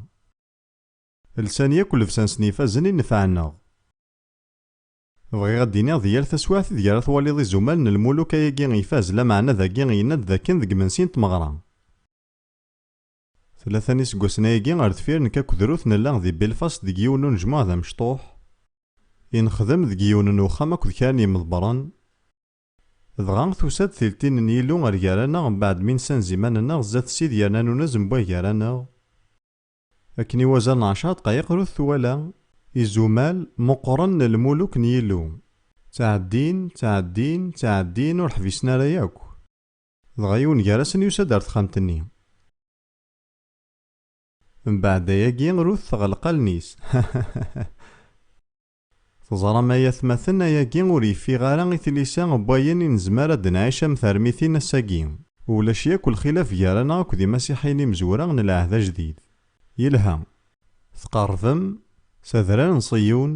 Lsan yakk llebsa-nsen ifazen i nefɛen-aɣ. Bɣiɣ ad d-iniɣ di yal taswiɛt ideg ara twaliḍ izumal n lmuluk ayagi ifaz, lameɛna dagi yenna-d d akken deg yimensi n tmeɣra. Tlata n yiseggasen ayagi ar deffir nekk akked Ruth nella di Belfast deg yiwen n unejmuɛ d amecṭuḥ i nexdem deg yiwen n uxxam akked kra n yimeḍbren, Dɣa, tusa-d tiltin n Yillu ar gar-aneɣ mbaɛd mi nessanez iman-nneɣ zdat Sid yerna nunez mewway gar-aneɣ. Akken i wazal n ɛecṛa ddqayiq rut twala izumal meqqren n lmuluk n Yillu ttɛeddin, ttɛeddin, ttɛeddin ur ḥbisen ara yakk. Dɣa yiwen gar-asen yusa-d ar texxamt-nni. Mbaɛd ayagi rut teɣleq allen-is. Teẓram ay atmaten, ayagi ur yeffiɣ ara i tlisa n wayen i nezmer ad d-nɛic am termitin ass-agi. Ulac yakk lxilaf gar-aneɣ akk d imasiḥiyen imezwura n lɛehd ajdid. Yelha. Tqerrbem, s adrar n Ṣiyun,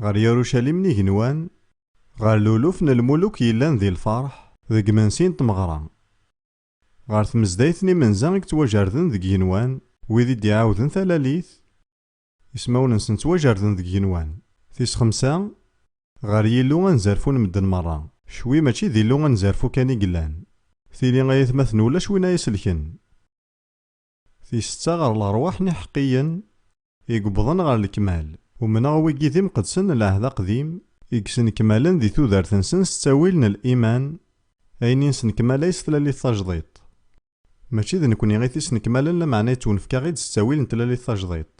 ɣer Yarucalim n igenwan, ɣer luluf n lmuluk yellan di lferḥ, deg imensi n tmeɣra, ɣer tmezdayt n imenza i yettwajerden deg igenwan, wid i d-iɛawden talalit, Ismawen-nsen ttwajerden deg igenwan. Tis xemsa, Ɣer Yillu anzerfu n medden merra. Cwi mačči d Illu anzerfu kan i yellan. Tili ay atmaten ulac win ay as-lken. Tis setta, Ɣer leṛwaḥ n iḥeqqiyen i yewwḍen ɣer lekmal. Umneɣ wigi d imqedsen n Lɛehd Aqdim i yesnekmalen di tudert-nsen s ttawil n liman, ayen i nesnekmal ay s tlalit tajdiṭ. Mačči d nekni i t-isnekmalen lameɛna yettwenefk-aɣ-id s ttawil n tlalit tajdiṭ.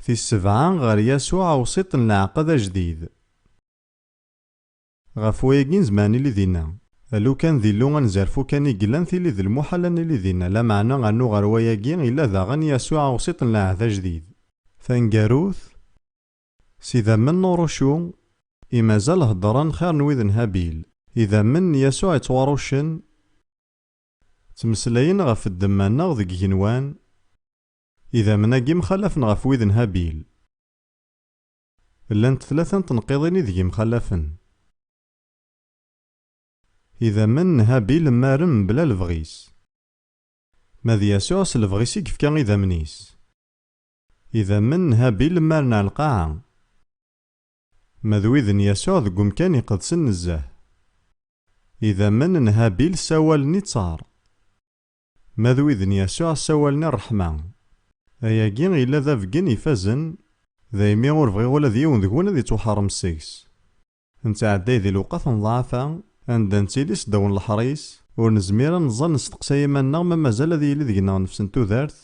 Tis sebɛa, ɣer Yasuɛ awsiṭ n leɛqed ajdid. Ɣef wayagi nezmer ad nili dinna. Alukan d Illu ad nezerfu kan i yellan tili d lmuḥal ad nili dinna, lameɛna rnu ɣer wayagi yella daɣen Yasuɛ awsiṭ n lɛehd ajdid. Taneggarut, S idammen n urucu i mazal heddren xir n wid n Habil. Idammen n Yasuɛ yettwaruccen ttmeslayen ɣef ddemma-nneɣ deg igenwan, idammen-agi mxalafen ɣef wid n Habil. Llant tlata n tenqiḍin ideg mxalafen. Idammen n Habil mmaren mebla lebɣi-s. Ma d Yasuɛ s lebɣi-s i yefka idammen-is. Idammen n Habil mmaren ar lqaɛa. Ma d wid n Yasuɛ deg umkan iqedsen nezzeh. Idammen n Habil ssawalen i ttar. Ma d wid n Yasuɛ ssawalen i ṛṛeḥma. Ayagi yella d abeggen ifazen, daymi ur bɣiɣ ula d yiwen deg-wen ad ittwaḥeṛṛem seg-s. Nettɛedday di lewqat n ḍḍeɛfa, anda nettili seddaw n leḥris, ur nezmir ad neẓẓal nesteqsay iman-nneɣ ma mazal ad yili deg-neɣ nnefs n tudert,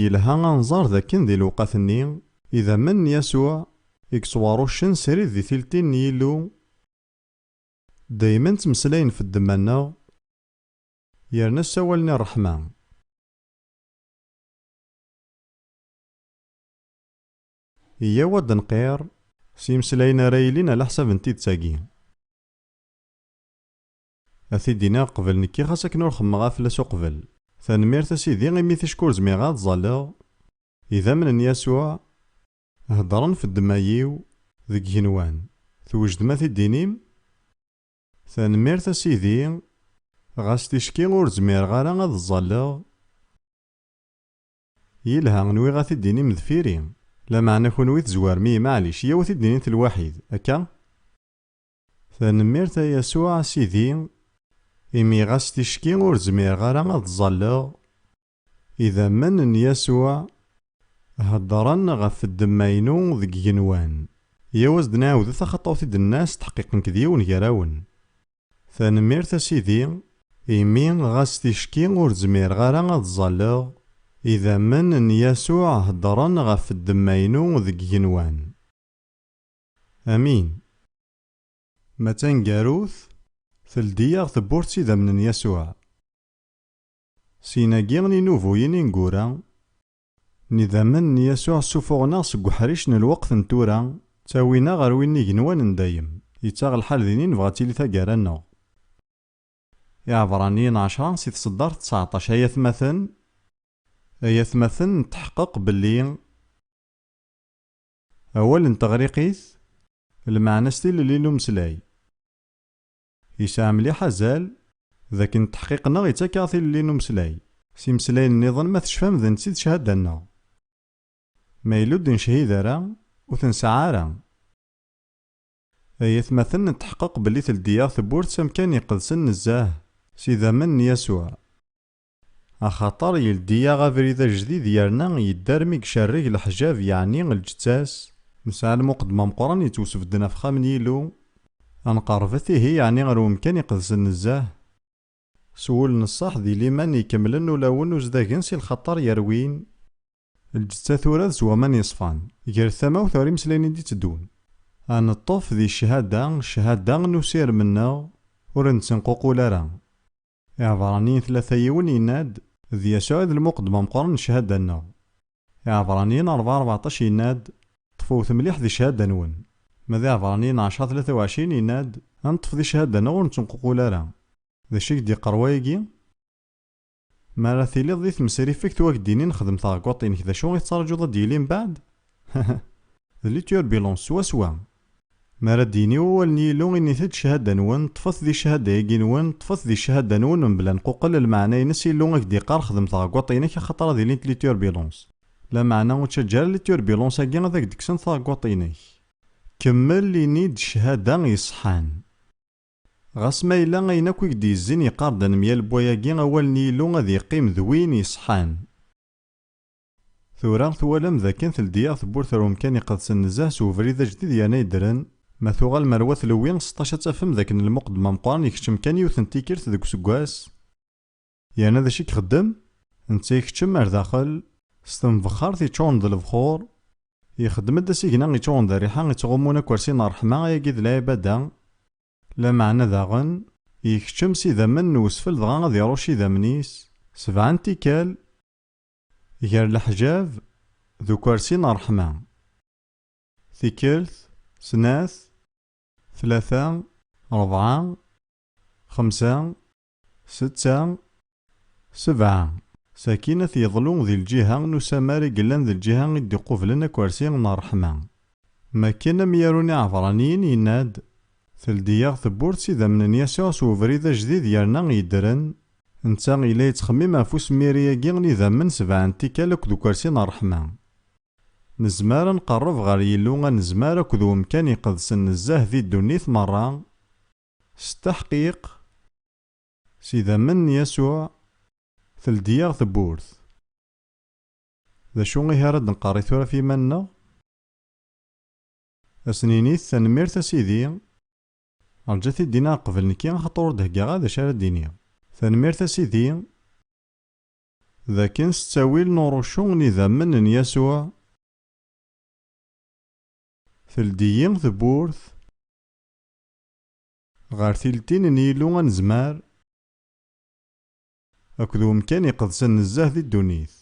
Yelha ad nẓer dakken di lewqat-nni, idammen n Yasuɛ i yettwaṛuccen srid di tiltin n Yillu, daymen ttmeslayen ɣef ddemma-nneɣ yerna ssawalen i ṛṛeḥma. Iyyaw ad d-nqirr s yimeslayen ara yilin ɛlaḥsab n tidet-agi. Ad t-id-iniɣ qbel nekki xas akken ur xemmeɣ ara fell-as uqbel. Tanemmirt a Sidi imi ticki ur zmireɣ ad ẓẓalleɣ. Idammen n Yasuɛ heddren f ddemma-iw deg igenwan. Twejdem ad t-id-tinim? Tanemmirt a Sidi, ɣas ticki ur zmireɣ ara ad ẓẓalleɣ. Yelha, nwiɣ ad t-id-tinim deffir-i. Lameɛna kunwi tezwarem-iyi, maɛlic, iyyaw ad t-id-nini-t lwaḥid, akka? Tanemmirt a Yasuɛ a Sidi, imi ɣas ticki ur zmireɣ ara ad ẓẓalleɣ. Idammen n Yasuɛ heddren ɣef ddemma-inu deg yigenwan. Yyaw ad as-d-nɛiwed taxaṭawt i d-tenna s tḥeqqiq nekk d yiwen gar-awen. Tanemmirt a Sidi, imi ɣas ticki ur zmireɣ ara ad ẓẓalleɣ. Idammen n Yasuɛ heddren ɣef ddemma-inu deg yigenwan. Amin. Ma d taneggarut, teldi-yaɣ tewwurt s idammen n Yasuɛ. Syin-agi, inubuyen ineggura n idammen n Yasuɛ ssuffuɣen-aɣ seg uḥric n lweqt n tura, ttawin-aɣ ɣer win n igenwan n dayem. Yettaɣ lḥal din i nebɣa ad tili taggara-nneɣ. Iɛebraniyen ɛecra si tseddart ţţaɛṭac Ay atmaten, ay atmaten, netḥeqqeq belli. Awal n teɣriqit, lmeɛna-s tilelli n umeslay. Yesɛa mliḥ azal d akken ddeḥqiq-nneɣ ittak-aɣ tilelli n umeslay. S imeslayen-nniḍen ma tecfam d netta i d cchada-nneɣ. Ma yella ur d-necchid ara, ur t-nesɛa ara. Ay atmaten netḥeqqeq belli teldi-yaɣ tewwurt s amkan iqedsen nezzeh s idammen n Yasuɛ. Axaṭer yeldi-yaɣ abrid ajdid yerna yedda armi icerreg leḥjab yeɛni lǧeţţa-s. Nesɛa lmuqeddem ameqqran yeţwesbedden ɣef Uxxam n Yillu. Ad nqerrbet ihi yeɛni ar Umkan Iqedsen nezzeh. S wul n ṣṣeḥ di liman ikemmlen ulawen uzdagen si lxaṭer yerwin. Lǧeţţa turad s waman yeṣfan. Gret tamawt ɣer imeslayen i d-iteddun. Ad neṭṭef di cchada, cchada n usirem-nneɣ ur nettenququl ara. Iɛebṛaniyen tlata yiwen yenna-d, D Yasuɛ i d lmuqeddem ameqqran n cchada-nneɣ. Iɛebṛaniyen ṛebɛa ṛbeɛṭac yenna-d, Ṭṭfewet mliḥ di cchada-nwen. Ma d Iɛebṛaniyen ɛecṛa tlata u ɛecrin yenna-d, Ad neṭṭef di cchada-nneɣ ur nettenququl ara. D acu i k-d-yeqqar wayagi? Mi ara tiliḍ di tmesriffegt u ak-d-inin xdem taɣeggaṭ-inek d acu i tettraǧuḍ ad d-yili mbeɛd? D liturbulence swaswa! Mi ara d-yini wawal n Yillu, init-d, Cchada-nwen, ṭṭfet di cchada-agi-nwen, ṭṭfet di cchada-nwen mebla nquqel, lmeɛna-ines, Yillu ak d-yeqqar, xdem taɛeggaṭ-inek, axaṭer ad ilint li turbulence. Lameɛna, ur ttaǧǧa ara li turbulence-agi ad ak-d-kksent taɛeggaṭ-inek. Kemmel, ini-d, cchada yeṣṣḥan. Ɣas ma yella ayen akk i k-d-yezzin yeqqar-d ad nemyaleb wayagi, awal n Yillu ad yeqqim d win yeṣṣḥan. Tura, twalam dakken teldi-yaɣ tewwurt ar umkan iqedsen nezzeh s ubrid ajdid yerna yeddren. Ma tuɣalem ar wat Lewwi seṭṭac ad tafem dakken lmuqeddem ameqqran ikeččem kan yiwet n tikkelt deg useggas. Yerna d acu i ixeddem? Netta ikeččem ar daxel, s tenbexxart yeččuren d lebxur. Ixeddem-d asigna yeččuren d rriḥa i ttɣummun akk ar sin n ṛṛeḥma, ayagi d lɛibada. Lameɛna daɣen, ikeččem s idammen n wesfel dɣa ad iṛucc idammen-is sebɛa n tikkal. Gar leḥjab d ukersi n ṛṛeḥma. Tikkelt, snat, tlata, ṛebɛa, xemsa, setta, sebɛa. Sakin ad t-yeḍlu di lǧiha n usamar i yellan d lǧiha i d-iqublen akersi n ṛṛeḥma. Makken amyaru n Iɛebraniyen yenna-d, Teldi-yaɣ tewwurt s idammen n Yasuɛ s ubrid ajdid yerna yeddren. Netta yella yettxemmim ɣef usmiri-agi n idammen sebɛa n tikkal akked ukersi n ṛṛeḥma. Nezmer ad nqerreb ɣer Yillu anezmar akked wemkan iqedsen nezzeh di ddunit meṛṛa. S tteḥqiq, s idammen n Yasuɛ, teldi-yaɣ tewwurt. D acu ihi ara d-nqerr i tura ɣef yiman-nneɣ? Ad sen-init, Tanemmirt a sidi, rǧu ad t-id-iniɣ qbel nekki axaṭer ur d-heggaɣ ara d acu ara d-iniɣ. Tanemmirt a sidi. D akken s ttawil n urucu n idammen n Yasuɛ, teldi-yi tewwurt ɣer tiltin n Yillu anezmar. Akked umkan iqedsen nezzeh di ddunit.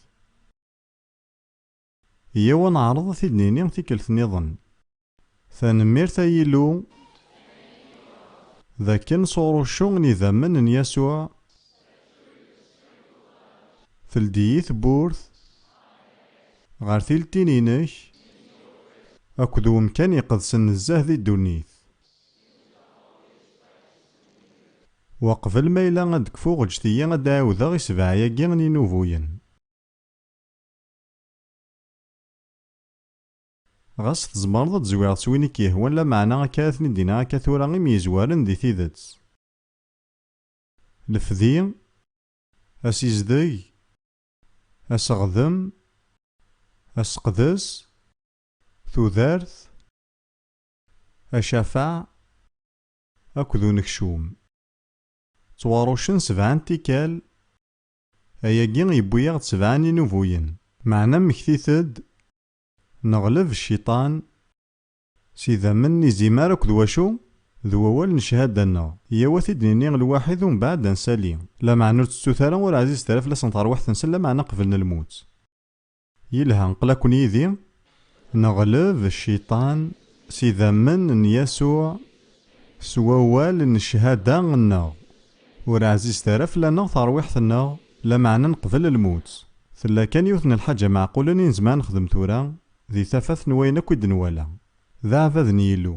Yyaw ad neɛreḍ ad t-id-nini tikkelt niḍen. Tanemmirt ay Illu d akken sɣur uccu n yidammen n Yasuɛ teldi-yi tewwurt ɣer tiltin-inek akked umkan iqedsen nezzeh di ddunit. Weqbel ma yella ad kfuɣ ǧǧet-iyi ad d-ɛiwdeɣ i sebɛa-agi n yinubuyen. Ɣas tzemreḍ ad d-zwireḍ s win i k-yehwan lameɛna akka ad ten-id-iniɣ akka tura i myezwaren di tidet. Lefdi, asizdeg, aseɣdem, aseqdes, tudert, acafaɛ akked unekcum. Ttwaruccen sebɛa n tikkal, ayagi yewwi-aɣ-d sebɛa n yinubuyen. Meɛna mmektit-d, neɣleb cciṭan s idammen n izimer akked wacu? d wawal n cchada-nneɣ. Yyaw ad t-id-nini lwaḥid umbeɛd ad nsali. Lameɛna ur ttettut ara ur ɛzizet ara fell-asen terwiḥt-nsen, lameɛna qeblen lmut. Yelha, qlaqen yid-i, neɣleb cciṭan s idammen n Yasuɛ s wawal n ccahada-nneɣ. Ur ɛzizet ara fell-aneɣ terwiḥt-nneɣ, lameɛna neqbel lmut. Tella kan yiwet n lḥaǧa meɛqulen i nezmer ad nexdem tura, di tafat n wayen akk i d-nwala. D aɛbad n Yillu.